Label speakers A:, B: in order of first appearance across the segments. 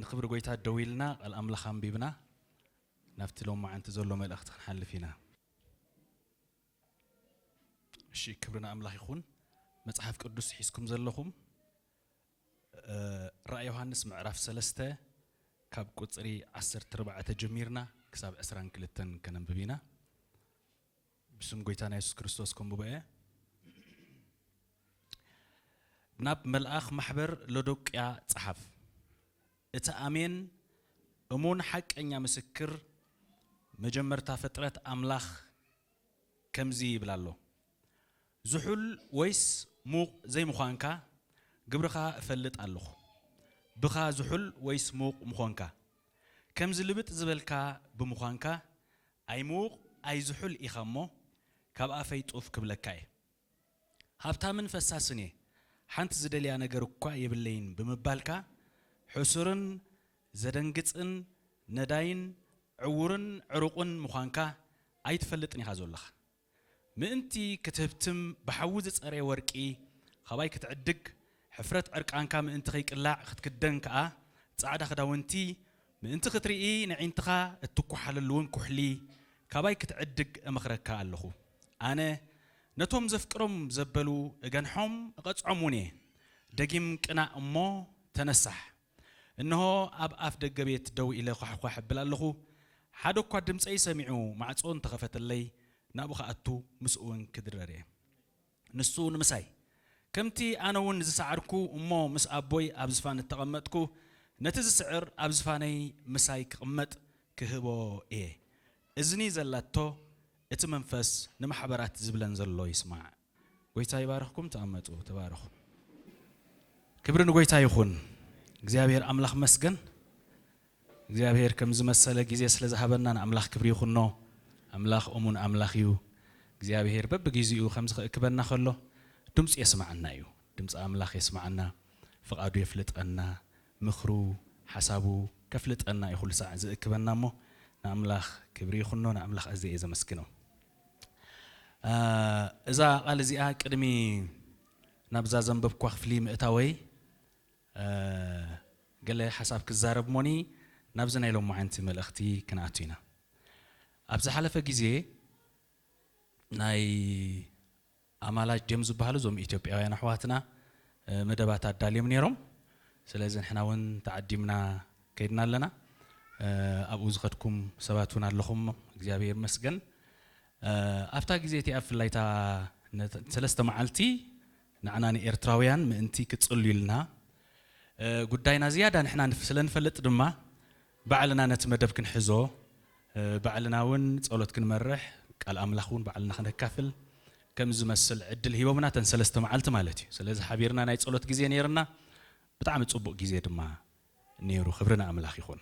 A: ንክብሪ ጎይታ ደው ኢልና ቃል ኣምላኽ ኣንቢብና ናብቲ ሎማዓንቲ ዘሎ መልእኽቲ ክንሓልፍ ኢና። እሺ ክብሪ ንኣምላኽ ይኹን መጽሓፍ ቅዱስ ሒዝኩም ዘለኹም ራእይ ዮሃንስ ምዕራፍ ሰለስተ ካብ ቁጽሪ ዓሰርተ ኣርባዕተ ጀሚርና ክሳብ ዕስራን ክልተን ከነንብብ ኢና። ብስም ጎይታና የሱስ ክርስቶስ ከንብቦ እየ። ናብ መልኣኽ ማሕበር ሎዶቅያ ጸሓፍ። እቲ ኣሜን እሙን ሓቀኛ ምስክር መጀመርታ ፍጥረት ኣምላኽ ከምዚ ይብል ኣሎ፣ ዝሑል ወይስ ምዉቕ ዘይምዃንካ ግብርኻ እፈልጥ ኣሎኹ። ብኻ ዝሑል ወይስ ምዉቕ ምኾንካ ከምዚ ልብጥ ዝበልካ ብምዃንካ ኣይምዉቕ ኣይዝሑል ኢኻ እሞ ካብ ኣፈይ ጡፍ ክብለካ እየ። ሃብታምን ፈሳስን እየ ሓንቲ ዝደልያ ነገር እኳ የብለይን ብምባልካ ሕሱርን ዘደንግጽን ነዳይን ዕዉርን ዕሩቑን ምዃንካ ኣይትፈልጥን ኢኻ ዞሎኻ። ምእንቲ ክትህብትም ብሓዊ ዝጸረየ ወርቂ ኻባይ ክትዕድግ፣ ሕፍረት ዕርቃንካ ምእንቲ ኸይቅላዕ ኽትክደን ከኣ ጻዕዳ ኽዳውንቲ፣ ምእንቲ ኽትርኢ ነዒንትኻ እትኳሓለሉውን ኵሕሊ ካባይ ክትዕድግ እመኽረካ ኣሎኹ። ኣነ ነቶም ዘፍቅሮም ዘበሉ እገንሖም እቐጽዖምውን እየ። ደጊም ቅናእ እሞ ተነሳሕ። እንሆ ኣብ ኣፍ ደገ ቤት ደው ኢለ ዃሕዃሕ እብል ኣለኹ፣ ሓደ እኳ ድምጸይ ሰሚዑ ማዕጾ እንተ ኸፈተለይ፣ ናብኡ ኽኣቱ ምስኡውን ክድረር እየ። ንሱ ንምሳይ፣ ከምቲ ኣነውን ዝሰዓርኩ እሞ ምስ ኣቦይ ኣብ ዝፋን እተቐመጥኩ፣ ነቲ ዝስዕር ኣብ ዝፋነይ ምሳይ ክቕመጥ ክህቦ እየ። እዝኒ ዘላቶ እቲ መንፈስ ንማሕበራት ዝብለን ዘሎ ይስማዕ። ጎይታ ይባርኽኩም ተቐመጡ ተባረኹ። ክብሪ ንጎይታ ይኹን እግዚኣብሔር ኣምላኽ መስገን እግዚኣብሔር ከምዝመሰለ ጊዜ ስለዝሃበና ንኣምላኽ ክብሪ ይኹኖ ኣምላኽ እሙን ኣምላኽ እዩ እግዚኣብሔር በብጊዜኡ ከምዝክእክበና ከሎ ድምፁ የስማዓና እዩ ድምፂ ኣምላኽ የስማዓና ፍቓዱ የፍልጠና ምኽሩ ሓሳቡ ከፍልጠና እዩ ኩሉ ሳዕ ዝእክበና እሞ ንኣምላኽ ክብሪ ይኹኖ ንኣምላኽ ኣዝየ እየ ዘመስግኖ። እዛ ቓል እዚኣ ቅድሚ ናብዛ ዘንበብክዋ ክፍሊ ምእታወይ ገለ ሓሳብ ክዛረብ እሞኒ ናብዚ ናይ ሎማዕንቲ መልእኽቲ ክንኣቱ ኢና። ኣብ ዝሓለፈ ግዜ ናይ ኣማላጅ ድዮም ዝብሃሉ እዞም ኢትዮጵያውያን ኣሕዋትና መደባት ኣዳልዮም ኔሮም ስለዚ ንሕና ውን ተዓዲምና ከይድና ኣለና ኣብኡ ዝኸድኩም ሰባት ውን ኣለኹም እግዚኣብሄር ይመስገን ኣብታ ግዜ እቲኣ ብፍላይ እታ ሰለስተ መዓልቲ ንዓና ንኤርትራውያን ምእንቲ ክትጽልዩልና ጉዳይና ዝያዳ ንሕና ስለ ንፈልጥ ድማ ባዕልና ነቲ መደብ ክንሕዞ ባዕልና ውን ጸሎት ክንመርሕ ቃል ኣምላኽ ውን ባዕልና ከነካፍል ከም ዝመስል ዕድል ሂቦምና እተን ሰለስተ መዓልቲ ማለት እዩ ስለዚ ሓቢርና ናይ ጸሎት ግዜ ነይርና ብጣዕሚ ጽቡቅ ግዜ ድማ ነይሩ ክብሪ ንኣምላኽ ይኹን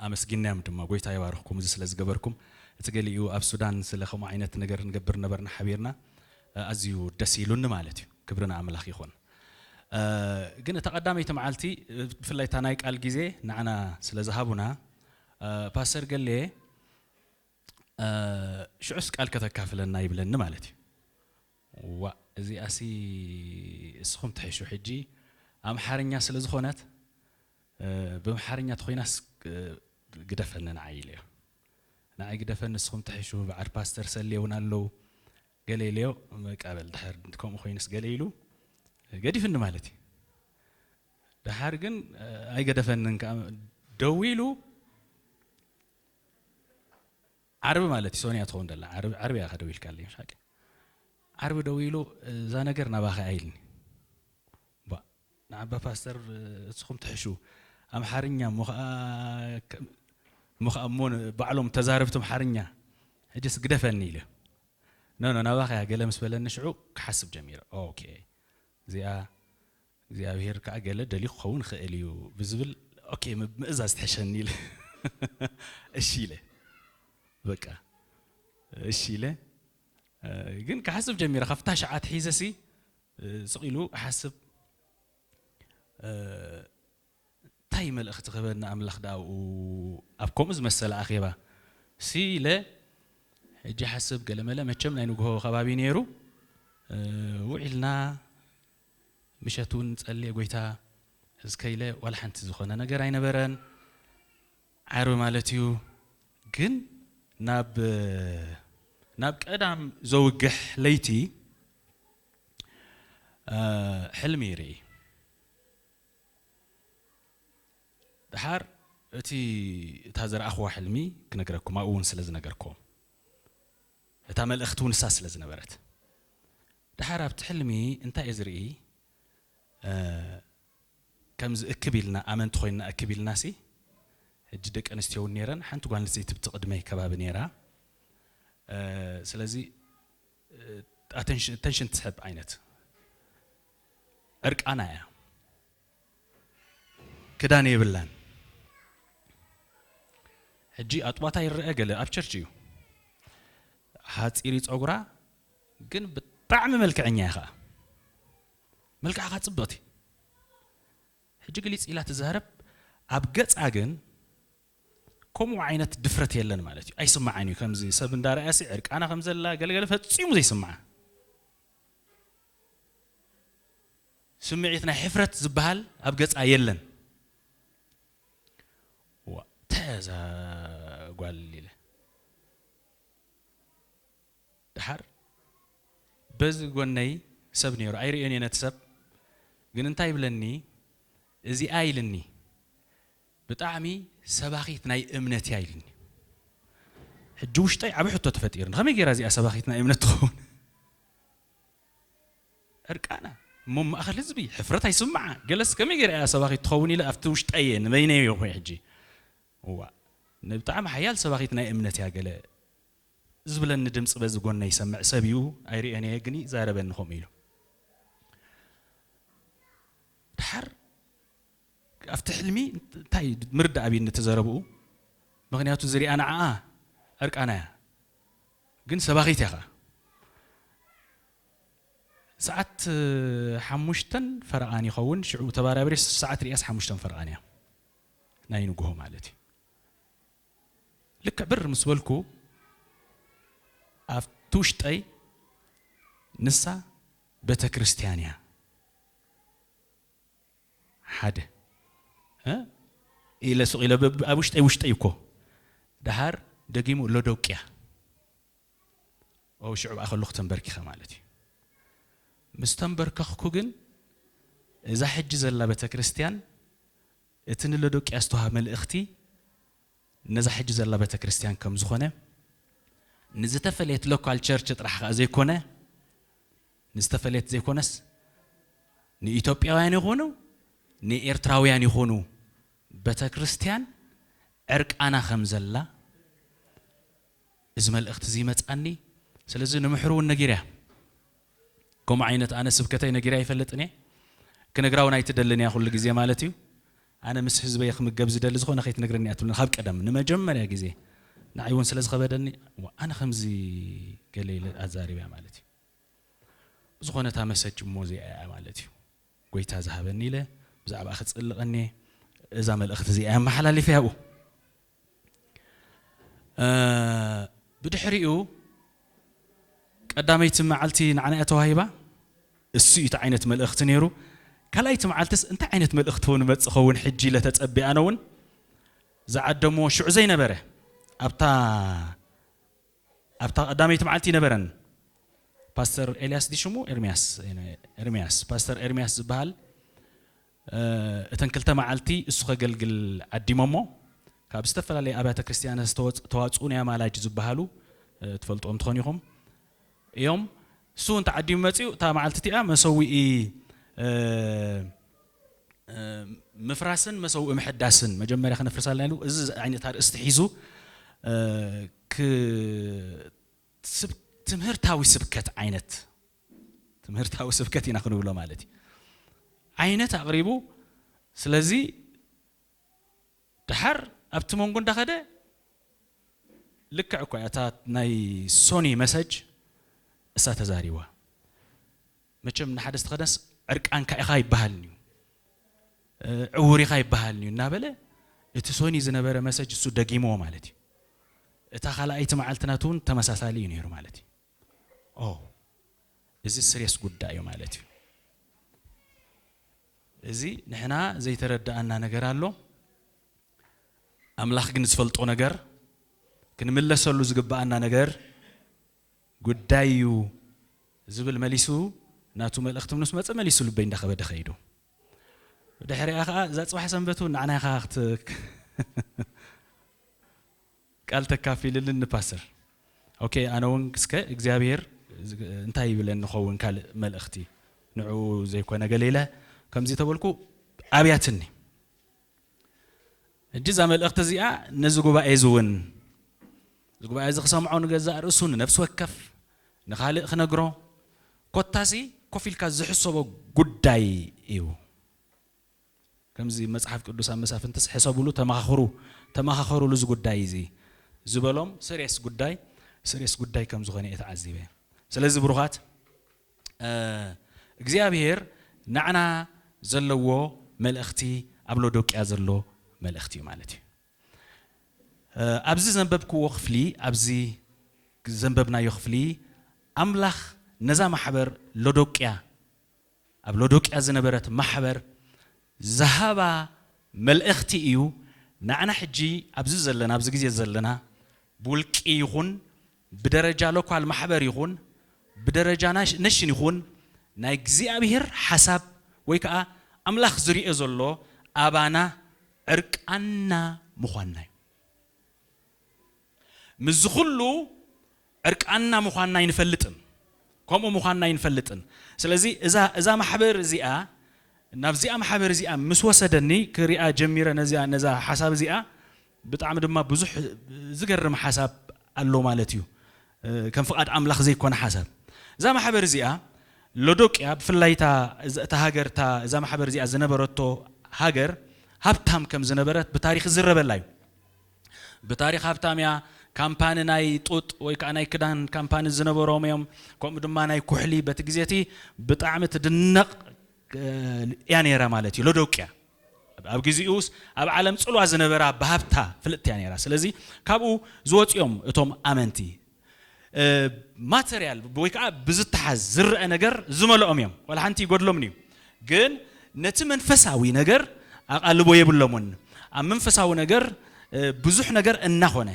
A: ኣመስጊናዮም ድማ ጎይታ ይባርኽኩም እዚ ስለ ዝገበርኩም እቲ ገሊኡ ኣብ ሱዳን ስለ ከምኡ ዓይነት ነገር ንገብር ነበርና ሓቢርና ኣዝዩ ደስ ኢሉኒ ማለት እዩ ክብሪ ንኣምላኽ ይኹን ግን እታ ቀዳመይቲ መዓልቲ ብፍላይ እታ ናይ ቃል ግዜ ንዓና ስለ ዝሃቡና ፓስተር ገሌ ሽዑስ ቃል ከተካፍለና ይብለኒ ማለት እዩ ዋ እዚኣሲ እስኹም ትሕሹ ሕጂ ኣምሓርኛ ስለ ዝኾነት ብምሓርኛ ተኮይናስ ግደፈኒ ንዓይ ኢለዮ ንዓይ ግደፈኒ ንስኹም ትሕሹ በዓል ፓስተር ሰሌ እውን ኣለዉ ገለ ኢለዮ በቃ በል ድሕር ከምኡ ኮይኑስ ገለ ኢሉ ገዲፍኒ ማለት እዩ ድሓር ግን ኣይገደፈንን ከዓ ደዊሉ ዓርቢ ማለት እዩ ሶንያ ትኸውን ደላ ዓርቢ እያ ከደው ኢልካለይ ዓርቢ ደው ኢሉ እዛ ነገር ናባኸ ኣይልኒ ባእ ንዓባ ፓስተር እስኹም ትሕሹ ኣምሓርኛ እሞ ኸኣ እሞ ኸኣ እሞ ባዕሎም ተዛረብቲ ኣምሓርኛ ሕጅስ ግደፈኒ ኢለ ኖኖ ናባኻ እያ ገለ ምስ በለኒ ሽዑ ክሓስብ ጀሚረ ኦኬ እዚኣ እግዚኣብሄር ከዓ ገለ ደልዩ ክኸውን ይኽእል እዩ ብዝብል ኦኬ ምእዛዝ ትሕሸኒ ኢለ እሺ ኢለ በቃ እሺ ኢለ ግን ክሓስብ ጀሚረ ካብታ ሸዓ ትሒዘሲ ስቕ ኢሉ ክሓስብ እንታይ መልእኽቲ ክህበኒ ኣምላኽ ደኣ ኣብኡ ኣብ ከምኡ ዝመሰለ ኣኼባ ሲ ኢለ ሕጂ ይሓስብ ገለመለ መቸም ናይ ንግሆ ከባቢ ነይሩ ውዒልና ምሸት እውን ጸልየ ጎይታ እስከ ኢለ ዋላ ሓንቲ ዝኾነ ነገር ኣይነበረን ዓርቢ ማለት እዩ ግን ናብ ናብ ቀዳም ዘውግሕ ለይቲ ሕልሚ ይርኢ ድሓር እቲ እታ ዘረኣኽዋ ሕልሚ ክነግረኩም ኣብኡ እውን ስለ ዝነገርኩም እታ መልእኽቲ እውን ንሳ ስለ ዝነበረት ድሓር ኣብቲ ሕልሚ እንታይ እየ ዝርኢ ከምዚ እክብ ኢልና ኣመንቲ ኮይንና እክብ ኢልና ሲ ሕጂ ደቂ ኣንስትዮ እውን ነይረን ሓንቲ ጓል ኣንስተይቲ ብቲ ቅድመይ ከባቢ ነይራ ስለዚ ኣተንሽን ትስሕብ ዓይነት ዕርቃና እያ ክዳን የብላን ሕጂ ኣጥባታ ይረአ ገለ ኣብ ቸርች እዩ ሓፂሪ ፀጉራ ግን ብጣዕሚ መልክዐኛ እያ ከዓ መልክዓ ከዓ ፅብቕቲ ሕጂ ግሊፅ ኢላ ትዛረብ ኣብ ገፃ ግን ከምኡ ዓይነት ድፍረት የለን ማለት እዩ ኣይስማዓን እዩ ከምዚ ሰብ እንዳ ረኣያሲ ዕርቃና ከም ዘላ ገለ ገለ ፈጺሙ ዘይስማዓ ስምዒት ናይ ሕፍረት ዝበሃል ኣብ ገጻ የለን ተዛ ጓል ኢለ ድሓር በዚ ጎነይ ሰብ ነይሩ ኣይርእዮን እየ ነቲ ሰብ ግን እንታይ ይብለኒ እዚኣ ኢልኒ ብጣዕሚ ሰባኺት ናይ እምነት እያ ኢልኒ ሕጂ ውሽጠይ ዓቢ ሕቶ ተፈጢርኒ ከመይ ጌራ እዚኣ ሰባኺት ናይ እምነት ትኸውን ዕርቃና እሞ ማእኸል ህዝቢ ሕፍረት ኣይስምዓ ገለስ ከመይ ጌራ እያ ሰባኺት ትኸውን ኢለ ኣብቲ ውሽጠይ እየ ንበይነይ እየ ኮይ ሕጂ እዋ ንብጣዕሚ ሓያል ሰባኺት ናይ እምነት እያ ገለ ዝብለኒ ድምፂ በዚ ጎነይ ይሰምዕ ሰብ እዩ ኣይርእዮን እየ ግን ይዛረበኒ ከምኡ ኢሉ ድሓር ኣብቲ ሕልሚ እንታይ ምርዳእ ኣብይኒ እቲ ዘረብኡ ምክንያቱ ዝሪኣ ንዓኣ ዕርቃና እያ ግን ሰባኺት እያ ከኣ ሰዓት ሓሙሽተን ፈረቓን ይኸውን ሽዑ ተባራብሬ ሰዓት ሪያስ ሓሙሽተን ፈረቓን እያ ናይ ንጉሆ ማለት እዩ ልክዕ ብር ምስ በልኩ ኣብቲ ውሽጠይ ንሳ ቤተ ክርስቲያን እያ ሓደ ኢለ ስቕ ኢለ ኣብ ውሽጠይ ውሽጠይ እኮ ደሃር ደጊሙ ሎዶቅያ ኦ ሽዑ ከለኹ ተንበርኪኸ ማለት እዩ ምስ ተንበርከኽኩ ግን እዛ ሕጂ ዘላ ቤተ ክርስቲያን እቲ ንሎዶቅያ ዝተዋሃ መልእኽቲ ነዛ ሕጂ ዘላ ቤተ ክርስቲያን ከም ዝኾነ ንዝተፈለየት ሎካል ቸርች ጥራሕ ከኣ ዘይኮነ ንዝተፈለየት ዘይኮነስ ንኢትዮጵያውያን ይኹኑ ንኤርትራውያን ይኹኑ በተክርስትያን ዕርቃና ከምዘላ እዚ መልእኽቲ እዚ ይመጻኒ ስለዚ ንምሕሩ እውን ነጊረያ ከምኡ ዓይነት ኣነ ስብከተይ ነጊረያ ይፈልጥን እየ ክነግራ እውን ኣይትደልን እያ ኩሉ ግዜ ማለት እዩ ኣነ ምስ ህዝበይ ክምገብ ዝደሊ ዝኾነ ከይትነግረኒ እያ ትብለኒ ካብ ቀደም ንመጀመርያ ግዜ ንዓይ እውን ስለ ዝኸበደኒ ኣነ ከምዚ ገለ ኢለ ኣዛሪበያ ማለት እዩ ብዝኾነ እታ መሰጅ እሞ እዚኣ እያ ማለት እዩ ጎይታ ዝሃበኒ ኢለ ብዛዕባ ክጽልቐኒ እዛ መልእኽቲ እዚኣ እያ መሓላሊፈ ያብኡ ብድሕሪኡ ቀዳመይቲ መዓልቲ ንዓና እያ ተዋሂባ እሱ እዩ እቲ ዓይነት መልእኽቲ ነይሩ ካልኣይቲ መዓልትስ እንታይ ዓይነት መልእኽቲ እውን መፅ ኸውን ሕጂ ኢለ ተፀቢኣነ እውን ዝዓደምዎ ሽዑ ዘይነበረ ኣብታ ኣብታ ቀዳመይቲ መዓልቲ ነበረን ፓስተር ኤልያስ ዲ ሽሙ ኤርሚያስ ኤርሚያስ ፓስተር ኤርሚያስ ዝበሃል እተን ክልተ መዓልቲ እሱ ከገልግል ዓዲሞሞ ካብ ዝተፈላለየ ኣብያተ ክርስቲያን ዝተዋፅኡ ናይ ኣማላጅ ዝበሃሉ ትፈልጦም ትኾን ኢኹም እዮም እሱ እውን ተዓዲሙ መፅኡ እታ መዓልቲ እቲኣ መሰዊኢ ምፍራስን መሰውኢ ምሕዳስን መጀመርያ ክነፍርስ ኣለና ኢሉ እዚ ዓይነት ኣርእስቲ ሒዙ ትምህርታዊ ስብከት ዓይነት ትምህርታዊ ስብከት ኢና ክንብሎ ማለት እዩ ዓይነት ኣቕሪቡ ስለዚ ድሓር ኣብቲ መንጎ እንዳኸደ ልክዕ እኳ እታ ናይ ሶኒ መሰጅ እሳ ተዛሪባ መቸም ንሓደ ዝተኸደነስ ዕርቃንካ ኢኻ ይበሃልን'ዩ፣ ዕዉር ኢኻ ይበሃልን'ዩ እናበለ እቲ ሶኒ ዝነበረ መሰጅ እሱ ደጊምዎ ማለት'ዩ። እታ ካልኣይቲ መዓልቲ ናቱ'ውን ተመሳሳሊ'ዩ ነይሩ ማለት'ዩ። ኦው እዚ ስሬስ ጉዳይ'ዩ ማለት'ዩ። እዚ ንሕና ዘይተረደኣና ነገር ኣሎ፣ ኣምላኽ ግን ዝፈልጦ ነገር፣ ክንምለሰሉ ዝግበኣና ነገር፣ ጉዳይ እዩ ዝብል መሊሱ ናቱ መልእኽቲ ምስ መጸ መሊሱ ልበይ እንዳኸበደ ከይዱ። ብድሕሪኣ ከኣ እዛ ጽባሕ ሰንበት እውን ንዓና ኢኻ ክት ቃል ተካፊልልን ንፓስር ኦኬ ኣነ እውን እስከ እግዚኣብሔር እንታይ ይብለን ንኸውን ካልእ መልእኽቲ ንዕኡ ዘይኮነ ገለ ኢለ ከምዚ ተበልኩ ኣብያትኒ። ሕጂ እዛ መልእኽቲ እዚኣ ነዚ ጉባኤ እዚ እውን እዚ ጉባኤ እዚ ክሰምዖ ንገዛእ ርእሱ ንነፍሲ ወከፍ ንኻልእ ክነግሮ ኮታሲ ኮፍ ኢልካ ዝሕሰቦ ጉዳይ እዩ። ከምዚ መጽሓፍ ቅዱስ ኣብ መሳፍንትስ ሕሰብሉ ተመኻኽሩ ተመኻኸሩሉ እዚ ጉዳይ እዚ ዝበሎም ስሬስ ጉዳይ ስሬስ ጉዳይ ከም ዝኾነ እየ ተዓዚበ። ስለዚ ብሩኻት እግዚኣብሄር ናዕና ዘለዎ መልእኽቲ ኣብ ሎዶቅያ ዘሎ መልእኽቲ እዩ ማለት እዩ። ኣብዚ ዘንበብክዎ ክፍሊ ኣብዚ ዘንበብናዮ ክፍሊ ኣምላኽ ነዛ ማሕበር ሎዶቅያ ኣብ ሎዶቅያ ዝነበረት ማሕበር ዝሃባ መልእኽቲ እዩ ናዕና ሕጂ ኣብዚ ዘለና ኣብዚ ግዜ ዘለና ብውልቂ ይኹን ብደረጃ ሎካል ማሕበር ይኹን ብደረጃ ነሽን ይኹን ናይ እግዚኣብሄር ሓሳብ ወይ ከኣ ኣምላኽ ዝሪኦ ዘሎ ኣባና ዕርቃንና ምዃንና እዩ። ምስዚ ኩሉ ዕርቃንና ምዃንና ኣይንፈልጥን ከምኡ ምዃንና ኣይንፈልጥን ስለዚ እዛ እዛ ማሕበር እዚኣ ናብዚኣ ማሕበር እዚኣ ምስ ወሰደኒ ክሪኣ ጀሚረ ነዚኣ ነዛ ሓሳብ እዚኣ ብጣዕሚ ድማ ብዙሕ ዝገርም ሓሳብ ኣሎ ማለት እዩ ከም ፍቃድ ኣምላኽ ዘይኮነ ሓሳብ እዛ ማሕበር እዚኣ ሎዶቅያ ብፍላይ እታ እታ ሃገር እታ እዛ ማሕበር እዚኣ ዝነበረቶ ሃገር ሃብታም ከም ዝነበረት ብታሪኽ ዝዝረበላ እዩ ብታሪኽ ሃብታም እያ ካምፓኒ ናይ ጡጥ ወይ ከዓ ናይ ክዳን ካምፓኒ ዝነበሮም እዮም ከምኡ ድማ ናይ ኩሕሊ በቲ ግዜ እቲ ብጣዕሚ ትድነቕ እያ ነይራ ማለት እዩ ሎዶቅያ ኣብ ግዚኡስ ኣብ ዓለም ጽልዋ ዝነበራ ብሃብታ ፍልጥቲ እያ ነይራ ስለዚ ካብኡ ዝወጹ እዮም እቶም ኣመንቲ ማተርያል ወይ ከዓ ብዝተሓዝ ዝረአ ነገር ዝመልኦም እዮም ዋላ ሓንቲ ይጎድሎምን እዩ ግን ነቲ መንፈሳዊ ነገር ኣቓልቦ የብሎምን ኣብ መንፈሳዊ ነገር ብዙሕ ነገር እናኾነ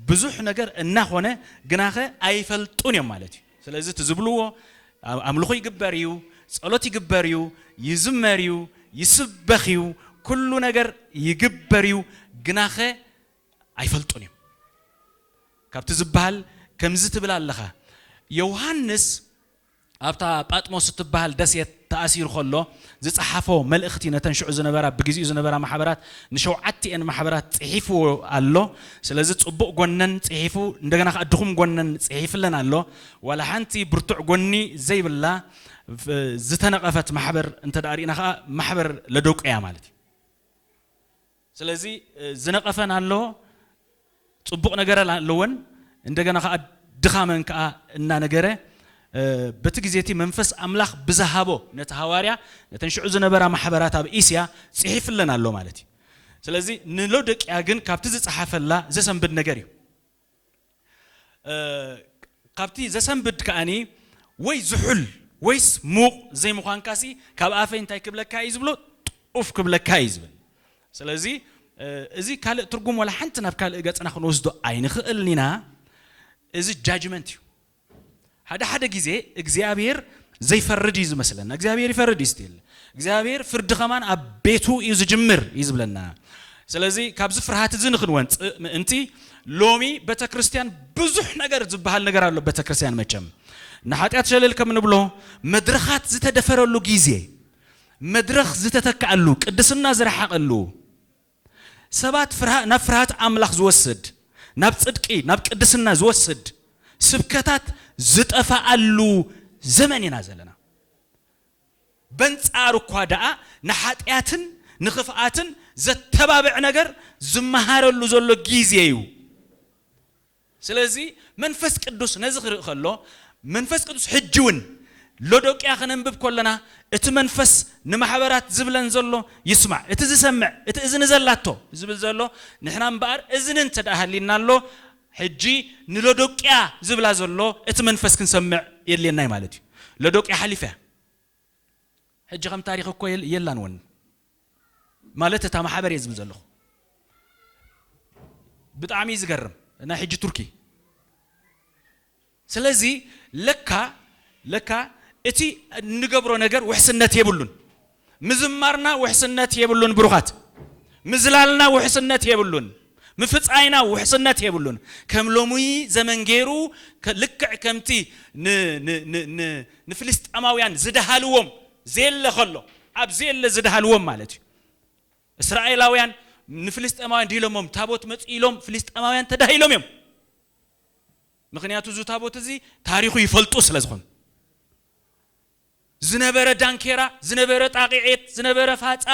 A: ብዙሕ ነገር እናኾነ ግናኸ ኣይፈልጡን እዮም ማለት እዩ ስለዚ እቲ ዝብልዎ ኣምልኹ ይግበር እዩ፣ ጸሎት ይግበር እዩ፣ ይዝመር እዩ፣ ይስበኽ እዩ፣ ኩሉ ነገር ይግበር እዩ፣ ግናኸ ኣይፈልጡን እዮም ካብቲ ዝበሃል ከምዚ ትብል ኣለኻ ዮውሃንስ ኣብታ ጳጥሞስ እትበሃል ደሴት ተኣሲሩ ከሎ ዝጸሓፎ መልእኽቲ ነተን ሽዑ ዝነበራ ብግዚኡ ዝነበራ ማሕበራት ንሸውዓቲኤን ማሕበራት ጽሒፍዎ ኣሎ ስለዚ ጽቡቅ ጎነን ጽሒፉ እንደገና ከኣ ድኹም ጎነን ጽሒፍለን ኣሎ ዋላ ሓንቲ ብርቱዕ ጎኒ ዘይብላ ዝተነቀፈት ማሕበር እንተ ሪኢና ከኣ ማሕበር ለዶቅያ ማለት እዩ። ስለዚ ዝነቀፈን ኣሎ ጽቡቅ ነገረን ኣለወን እንደገና ከኣ ድኻመን ከኣ እናነገረ በቲ ግዜ እቲ መንፈስ ኣምላኽ ብዝሃቦ ነቲ ሃዋርያ ነተን ሽዑ ዝነበራ ማሕበራት ኣብ እስያ ጽሒፍለን ኣሎ ማለት እዩ። ስለዚ ንሎዶቅያ ግን ካብቲ ዝጸሓፈላ ዘሰንብድ ነገር እዩ። ካብቲ ዘሰንብድ ከኣ ወይ ዝሑል ወይስ ምዉቕ ዘይምዃንካሲ ካብ ኣፈይ እንታይ ክብለካ ኢዩ ዝብሎ ጡፍ ክብለካ ኢዩ ዝብል። ስለዚ እዚ ካልእ ትርጉም ዋላ ሓንቲ ናብ ካልእ ገጽና ክንወስዶ ኣይንኽእልን ኢና። እዚ ጃጅመንት ኢዩ። ሓደ ሓደ ግዜ እግዚኣብሄር ዘይፈርድ እዩ ዝመስለና እግዚኣብሄር ይፈርድ እዩ ስቲል እግዚኣብሄር ፍርዲ ከማን ኣብ ቤቱ እዩ ዝጅምር እዩ ዝብለና ስለዚ ካብዚ ፍርሃት እዚ ንክንወንፅእ ምእንቲ ሎሚ ቤተክርስትያን ብዙሕ ነገር ዝበሃል ነገር ኣሎ ቤተክርስትያን መቸም ንሓጢኣት ሸለል ከም ንብሎ መድረኻት ዝተደፈረሉ ግዜ መድረኽ ዝተተክኣሉ ቅድስና ዝረሓቐሉ ሰባት ፍርሃ ናብ ፍርሃት ኣምላኽ ዝወስድ፣ ናብ ጽድቂ፣ ናብ ቅድስና ዝወስድ ስብከታት ዝጠፋኣሉ ዘመን ኢና ዘለና። በንጻሩ እኳ ደኣ ንሓጢኣትን ንኽፍኣትን ዘተባብዕ ነገር ዝመሃረሉ ዘሎ ግዜ እዩ። ስለዚ መንፈስ ቅዱስ ነዚ ክርኢ ከሎ መንፈስ ቅዱስ ሕጂ ውን ሎዶቅያ ክነንብብ ከሎና እቲ መንፈስ ንማሕበራት ዝብለን ዘሎ ይስማዕ እቲ ዝሰምዕ እቲ እዝኒ ዘላቶ ዝብል ዘሎ ንሕና እምበኣር እዝኒ እንተድኣ ሃልዩና ኣሎ ሕጂ ንሎዶቅያ ዝብላ ዘሎ እቲ መንፈስ ክንሰምዕ የድልየና እዩ ማለት እዩ ሎዶቅያ ሓሊፋ እያ ሕጂ ከም ታሪኽ እኮ የላን ወን ማለት እታ ማሕበር እየ ዝብል ዘለኹ ብጣዕሚ እዩ ዝገርም ናይ ሕጂ ቱርኪ ስለዚ ለካ ለካ እቲ እንገብሮ ነገር ውሕስነት የብሉን ምዝማርና ውሕስነት የብሉን ብሩኻት ምዝላልና ውሕስነት የብሉን ምፍጻይና ውሕስነት የብሉን። ከም ሎሙይ ዘመን ገይሩ ልክዕ ከምቲ ን ን ን ን ንፍልስጠማውያን ዝደሃልዎም ዜለ ከሎ ኣብ ዜለ ዝደሃልዎም ማለት እዩ። እስራኤላውያን ንፍልስጠማውያን ድሂሎሞም ታቦት መጹ ኢሎም ፍልስጠማውያን ተዳሂሎም እዮም። ምክንያቱ እዚ ታቦት እዚ ታሪኹ ይፈልጡ ስለ ዝኾኑ። ዝነበረ ዳንኬራ፣ ዝነበረ ጣቂዔት፣ ዝነበረ ፋጻ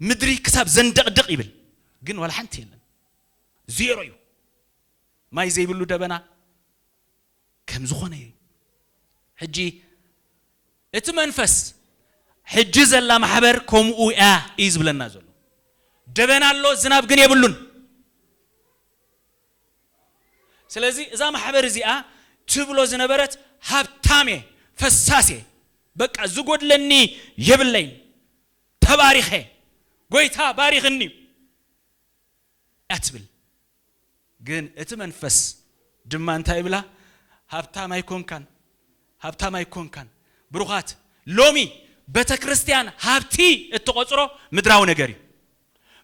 A: ምድሪ ክሳብ ዘንደቕድቕ ይብል ግን ዋላ ሓንቲ የለን ዜሮ እዩ ማይ ዘይብሉ ደበና ከም ዝኾነ እዩ ሕጂ እቲ መንፈስ ሕጂ ዘላ ማሕበር ከምኡ እያ እዩ ዝብለና ዘሎ ደበና ኣሎ ዝናብ ግን የብሉን ስለዚ እዛ ማሕበር እዚኣ ትብሎ ዝነበረት ሃብታም እየ ፈሳስ እየ በቃ ዝጎድለኒ የብለይን ተባሪኸ ጎይታ ባሪኽኒ እዩ እያ ትብል ግን እቲ መንፈስ ድማ እንታይ ይብላ ሃብታም ኣይኮንካን ሃብታም ኣይኮንካን ብሩኻት ሎሚ ቤተክርስትያን ሃብቲ እትቆጽሮ ምድራዊ ነገር እዩ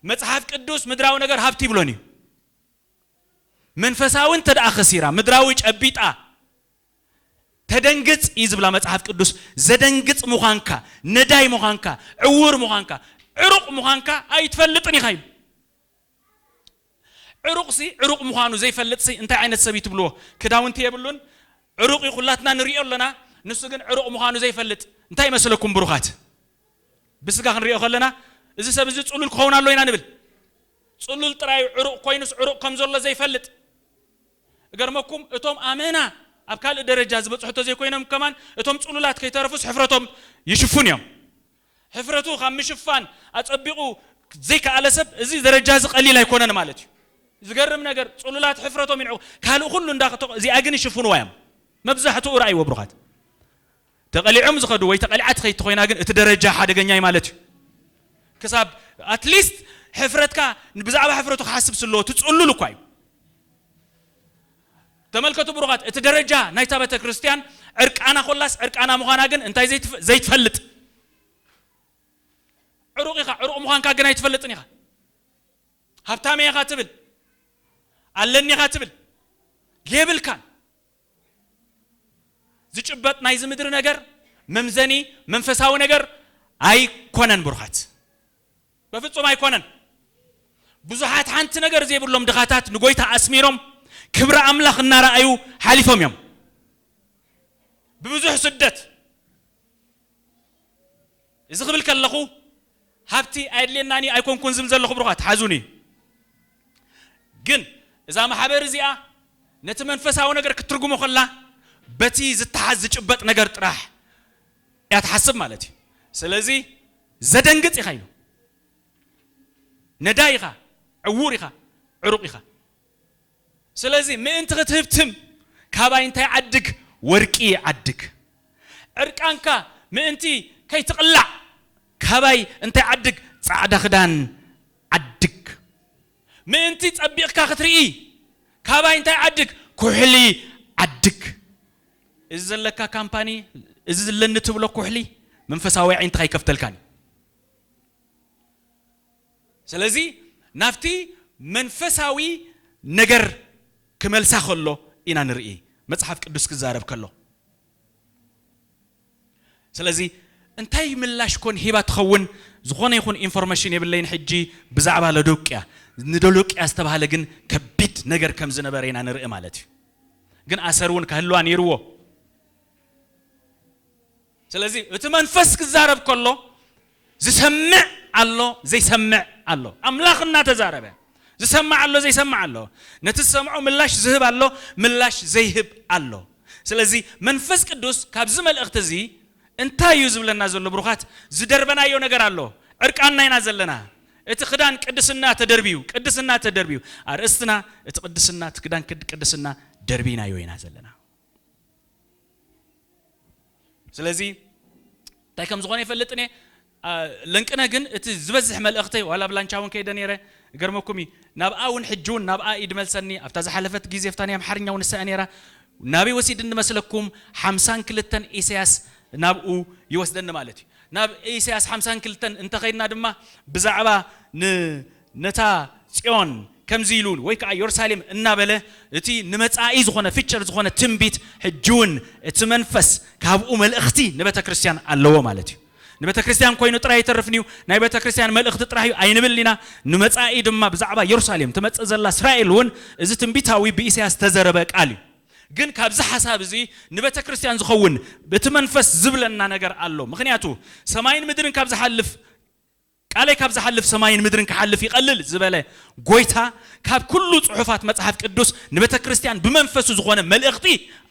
A: መጽሓፍ ቅዱስ ምድራዊ ነገር ሃብቲ ይብሎን እዩ መንፈሳዊ እንተደኣ ከሲራ ምድራዊ ጨቢጣ ተደንግጽ እዩ ዝብላ መጽሓፍ ቅዱስ። ዘደንግጽ ምዃንካ፣ ነዳይ ምዃንካ፣ ዕዉር ምዃንካ፣ ዕሩቕ ምዃንካ ኣይትፈልጥን ኢኻ ኢሉ። ዕሩቕሲ ዕሩቕ ምዃኑ ዘይፈልጥሲ እንታይ ዓይነት ሰብ እዩ ትብልዎ? ክዳውንቲ የብሉን፣ ዕሩቕ እዩ ኩላትና ንርእዮ ኣሎና፣ ንሱ ግን ዕሩቕ ምዃኑ ዘይፈልጥ እንታይ ይመስለኩም ብሩኻት? ብስጋ ክንርእዮ ከለና እዚ ሰብ እዚ ጽሉል ክኸውን ኣለዎ ኢና ንብል። ጽሉል ጥራይ እዩ ዕሩቅ ኮይኑስ ዕሩቅ ከም ዘሎ ዘይፈልጥ እገርመኩም እቶም ኣመና ኣብ ካልእ ደረጃ ዝበጽሑ ተዘይኮይኖም ከማን እቶም ጽሉላት ከይተረፉስ ሕፍረቶም ይሽፍኑ እዮም ሕፍረቱ ካብ ምሽፋን ኣጸቢቁ ዘይከኣለ ሰብ እዚ ደረጃ እዚ ቀሊል ኣይኮነን ማለት እዩ ዝገርም ነገር ጽሉላት ሕፍረቶም ይንዕቁ ካልእ ኩሉ እንዳ እዚኣ ግን ይሽፍንዋ እዮም መብዛሕትኡ ረኣይዎ ብሩኻት። ተቀሊዖም ዝኸዱ ወይ ተቀሊዓ ትኸይድ ተኾይና ግን እቲ ደረጃ ሓደገኛ እዩ ማለት እዩ። ክሳብ ኣትሊስት ሕፍረትካ ብዛዕባ ሕፍረቱ ክሓስብ ስለ ትጽሉል እኳ እዩ። ተመልከቱ ብሩኻት እቲ ደረጃ ናይታ ቤተክርስትያን ዕርቃና ኮላስ ዕርቃና ምዃና ግን እንታይ ዘይትፍ ዘይትፈልጥ ዕሩቕ ኢኻ ዕሩቕ ምዃንካ ግን ኣይትፈልጥን ኢኻ ሃብታም ኢኻ ትብል ኣለኒ ኢኻ ትብል የብልካን ዝጭበጥ ናይዚ ምድሪ ነገር መምዘኒ መንፈሳዊ ነገር ኣይኮነን ብሩኻት በፍጹም ኣይኮነን። ብዙሓት ሓንቲ ነገር ዘይብሎም ድኻታት ንጎይታ ኣስሚሮም ክብሪ ኣምላኽ እናረኣዩ ሓሊፎም እዮም ብብዙሕ ስደት። እዚ ክብል ከለኹ ሃብቲ ኣየድልየናን እዩ ኣይኮንኩን ዝብል ዘለኹ ብሩኻት፣ ሓዙኒ። ግን እዛ ማሕበር እዚኣ ነቲ መንፈሳዊ ነገር ክትትርጉሞ ከላ በቲ ዝተሓዝ ዝጭበጥ ነገር ጥራሕ እያ ትሓስብ ማለት እዩ። ስለዚ ዘደንግጽ ኢኻ ኢሉ። ነዳይ ኢኻ፣ ዕዉር ኢኻ፣ ዕሩቕ ኢኻ። ስለዚ ምእንቲ ክትህብትም ካባይ እንታይ ዓድግ ወርቂ ዓድግ። ዕርቃንካ ምእንቲ ከይትቕላዕ ካባይ እንታይ ዓድግ ጻዕዳ ክዳን ዓድግ። ምእንቲ ጸቢቕካ ክትርኢ ካባይ እንታይ ዓድግ ኩሕሊ ዓድግ። እዚ ዘለካ ካምፓኒ እዚ ዝለኒ ትብሎ ኩሕሊ መንፈሳዊ ኣዒንትኻ ኣይከፍተልካን እዩ። ስለዚ ናብቲ መንፈሳዊ ነገር ክመልሳ ከሎ ኢና ንርኢ መጽሓፍ ቅዱስ ክዛረብ ከሎ። ስለዚ እንታይ ምላሽ ኮን ሂባ ትኸውን ዝኾነ ይኹን ኢንፎርመሽን የብለይን ሕጂ ብዛዕባ ሎዶቅያ። ንዶሎቅያ ዝተባህለ ግን ከቢድ ነገር ከም ዝነበረ ኢና ንርኢ ማለት እዩ። ግን ኣሰር እውን ከህልዋ ነይርዎ። ስለዚ እቲ መንፈስ ክዛረብ ከሎ ዝሰምዕ ኣሎ ዘይሰምዕ ኣሎ። ኣምላኽ እናተዛረበ ዝሰምዕ ኣሎ ዘይሰምዕ ኣሎ። ነቲ ዝሰምዖ ምላሽ ዝህብ ኣሎ ምላሽ ዘይህብ ኣሎ። ስለዚ መንፈስ ቅዱስ ካብዚ መልእኽቲ እዚ እንታይ እዩ ዝብለና ዘሎ ብሩኻት ዝደርበናዮ ነገር ኣሎ ዕርቃንና ኢና ዘለና እቲ ክዳን ቅድስና ተደርብዩ ቅድስና ተደርብዩ ኣርእስትና እቲ ቅድስና እቲ ክዳን ቅድስና ደርቢናዮ ኢና ዘለና። ስለዚ እንታይ ከም ዝኾነ ይፈልጥን እየ ለንቅነ ግን እቲ ዝበዝሕ መልእኽተይ ዋላ ኣብ ላንቻ እውን ከይደ ነይረ ገርመኩም እዩ ናብኣ እውን ሕጂ እውን ናብኣ ኢድ መልሰኒ ኣብታ ዝሓለፈት ግዜ ፍታ ናይ ኣምሓርኛ እውን ንሳኣ ነይራ ናበይ ወሲድኒ መስለኩም ሓምሳን ክልተን ኢሳያስ ናብኡ ይወስደኒ ማለት እዩ ናብ ኢሳያስ ሓምሳን ክልተን እንተኸይድና ድማ ብዛዕባ ን ነታ ጽዮን ከምዚ ኢሉ ወይ ከኣ ዮርሳሌም እናበለ እቲ ንመጻኢ ዝኾነ ፍጭር ዝኾነ ትንቢት ሕጂውን እቲ መንፈስ ካብኡ መልእኽቲ ንበተክርስትያን ኣለዎ ማለት እዩ ንበተክርስትያን ኮይኑ ጥራይ ኣይተርፍንዩ ናይ በተክርስትያን መልእኽቲ ጥራህ እዩ ኣይንብልን ኢና ንመጻኢ ድማ ብዛዕባ ዮርሳሌም ትመጽእ ዘላ እስራኤል እውን እዚ ትንቢታዊ ብኢሰያስ ዝተዘረበ ቃል እዩ ግን ካብዚ ሓሳብ እዚ ንበተክርስትያን ዝኸውን እቲ መንፈስ ዝብለና ነገር ኣሎ ምኽንያቱ ሰማይን ምድርን ካብ ዝሓልፍ ቃለይ ካብ ዝሓልፍ ሰማይን ምድርን ክሓልፍ ይቐልል ዝበለ ጎይታ ካብ ኩሉ ጽሑፋት መጽሓፍ ቅዱስ ንቤተክርስትያን ብመንፈሱ ዝኾነ መልእኽቲ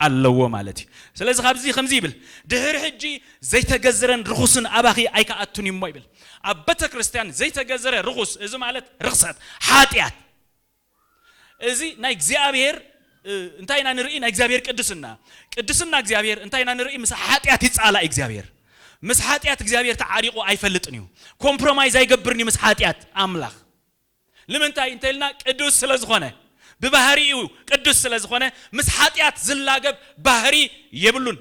A: ኣለዎ ማለት እዩ። ስለዚ ካብዚ ከምዚ ይብል ድሕሪ ሕጂ ዘይተገዝረን ርኹስን ኣባኺ ኣይክኣቱን እዩሞ ይብል። ኣብ ቤተክርስትያን ዘይተገዝረ ርኹስ እዚ ማለት ርኽሰት፣ ሓጢኣት፣ እዚ ናይ እግዚኣብሔር እንታይ ኢና ንርኢ ናይ እግዚኣብሔር ቅድስና ቅድስና እግዚኣብሔር እንታይ ኢና ንርኢ ምስ ሓጢኣት ይጻላእ እግዚኣብሔር ምስ ሓጢኣት እግዚኣብሔር ተዓሪቑ ኣይፈልጥን እዩ ኮምፕሮማይዝ ኣይገብርን እዩ ምስ ሓጢኣት ኣምላኽ ንምንታይ እንተልና ቅዱስ ስለ ዝኾነ ብባህሪኡ ቅዱስ ስለ ዝኾነ ምስ ሓጢኣት ዝላገብ ባህሪ የብሉን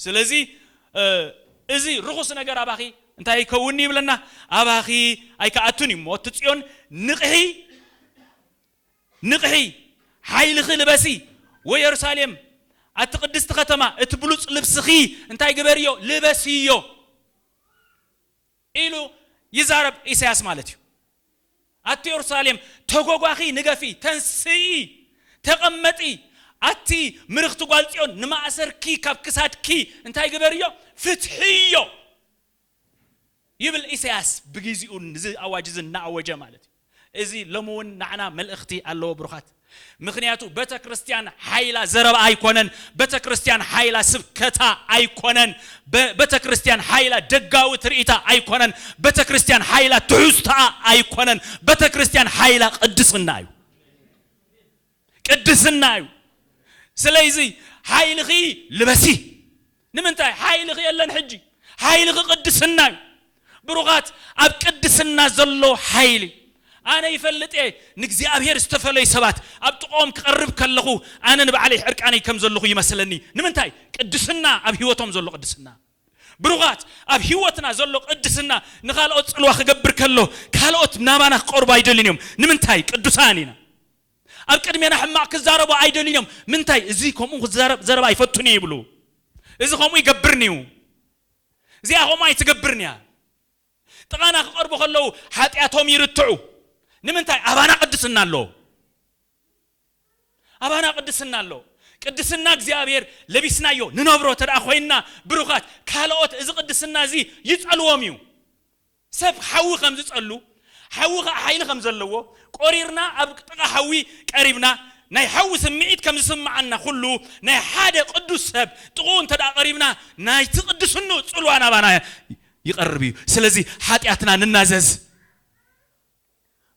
A: ስለዚ እዚ ርኹስ ነገር ኣባኺ እንታይ ኣይከውንን'ዩ ይብለና፣ ኣባኺ ኣይክኣቱን እዩ እሞ ኣቲ ጽዮን ንቕሒ፣ ንቕሒ፣ ሓይልኺ ልበሲ፣ ወየሩሳሌም ኣቲ ቅድስቲ ከተማ እቲ ብሉጽ ልብስኺ እንታይ ግበርዮ፣ ልበስዮ። ኢሉ ይዛረብ ኢሳያስ ማለት እዩ ኣቲ ዮርሳሌም ተጎጓኺ ንገፊ ተንስኢ ተቀመጢ ኣቲ ምርኽቲ ጓል ጽዮን ንማእሰርኪ ካብ ክሳድኪ እንታይ ግበርዮ ፍትሕዮ ይብል ኢሳያስ ብጊዚኡ እዚ ኣዋጅ እዚ እናኣወጀ ማለት እዩ። እዚ ሎሚ ውን ናዕና መልእክቲ ኣለዎ ብሩካት ምክንያቱ በተክርስትያን ሓይላ ዘረባኣ ኣይኮነን በተክርስትያን ሓይላ ስብከታ ኣይኮነን በተክርስትያን ሓይላ ደጋዊ ትርኢታ ኣይኮነን በተክርስትያን ሓይላ ትሕዝቶኣ ኣይኮነን በተክርስትያን ሓይላ ቅድስና እዩ ቅድስና እዩ ስለይዚ ሓይልኺ ልበሲ ንምንታይ ሓይልኺ የለን ሕጂ ሓይልኺ ቅድስና እዩ ብሩኻት ኣብ ቅድስና ዘሎ ሓይሊ ኣነ ይፈልጥ እየ ንእግዚኣብሔር ዝተፈለዩ ሰባት ኣብ ጥቕኦም ክቐርብ ከለኹ ኣነ ንባዕለይ ዕርቃነይ ከም ዘለኹ ይመስለኒ ንምንታይ ቅድስና ኣብ ህይወቶም ዘሎ ቅድስና ብሩኻት ኣብ ህይወትና ዘሎ ቅድስና ንካልኦት ፅልዋ ክገብር ከሎ ካልኦት ናባና ክቀርቡ ኣይደልን እዮም ንምንታይ ቅዱሳን ኢና ኣብ ቅድሜና ሕማቕ ክዛረቡ ኣይደልዩን እዮም። ምንታይ? እዚ ከምኡ ክዛረብ ዘረባ ኣይፈቱን እዩ ይብሉ። እዚ ከምኡ ይገብርን እዩ። እዚኣ ከምኡ ኣይትገብርን እያ። ጥቓና ክቐርቡ ከለዉ ሓጢኣቶም ይርትዑ። ንምንታይ? ኣባና ቅድስና ኣሎ። ኣባና ቅድስና ኣሎ። ቅድስና እግዚኣብሔር ለቢስናዮ ንነብሮ ተደኣ ኮይንና ብሩኻት፣ ካልኦት እዚ ቅድስና እዚ ይጸልዎም እዩ። ሰብ ሓዊ ከም ዝጸሉ፣ ሓዊ ኸኣ ሓይሊ ከም ዘለዎ፣ ቆሪርና ኣብ ጥቓ ሓዊ ቀሪብና ናይ ሓዊ ስምዒት ከም ዝስምዓና ኹሉ፣ ናይ ሓደ ቅዱስ ሰብ ጥቕኡ እንተድኣ ቀሪብና ናይቲ ቅድስንኡ ጽልዋ ናባና ይቐርብ እዩ። ስለዚ ሓጢኣትና ንናዘዝ።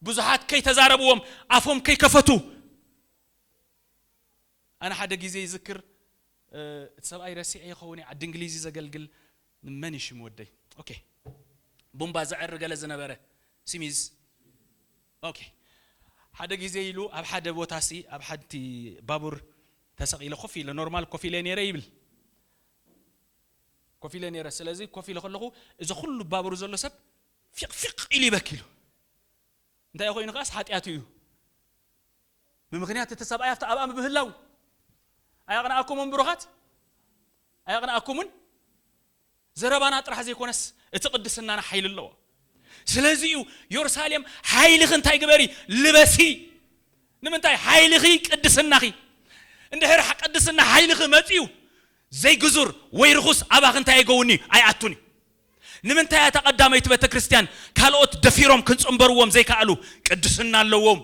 A: ብዙሓት ከይተዛረብዎም ኣፎም ከይከፈቱ። ኣነ ሓደ ግዜ ይዝክር እቲ ሰብኣይ ረሲዐ ይኸውን እየ ዓዲ እንግሊዝ እዩ ዘገልግል መን እዩ ሽም ወደይ ኦኬ ቡምባ ዘዕሪ ገለ ዝነበረ ሲሚዝ ኦኬ ሓደ ግዜ ኢሉ ኣብ ሓደ ቦታ ሲ ኣብ ሓንቲ ባቡር ተሰቂለ ኮፍ ኢለ ኖርማል ኮፍ ኢለ ነይረ ይብል ኮፍ ኢለ ነይረ ስለዚ ኮፍ ኢለ ከለኹ እዚ ኩሉ ባቡር ዘሎ ሰብ ፊቅ ፊቅ ኢሉ ይበኪ ኢሉ እንታይ ኮይኑ ከዓስ ሓጢኣቱ እዩ ብምኽንያት እቲ ሰብኣይ ኣብቲ ኣብኣ ብምህላዉ ኣየቕንኣኩምን ብሩኻት ኣየቕንኣኩምን ዘረባና ጥራሕ ዘይኮነስ እቲ ቅድስናና ሓይሊ ኣለዎ ስለዚ እዩ ዮርሳሌም ሓይልኺ እንታይ ግበሪ ልበሲ ንምንታይ ሓይልኺ ቅድስናኺ እንድሕር ቅድስና ሓይልኺ መፅዩ ዘይግዙር ወይ ርኹስ ኣባኺ እንታይ ኣይገውኒ ኣይኣቱን እዩ ንምንታይ እያ እታ ቀዳመይቲ ቤተክርስትያን ካልኦት ደፊሮም ክንጽንበርዎም ዘይከኣሉ ቅድስና ኣለዎም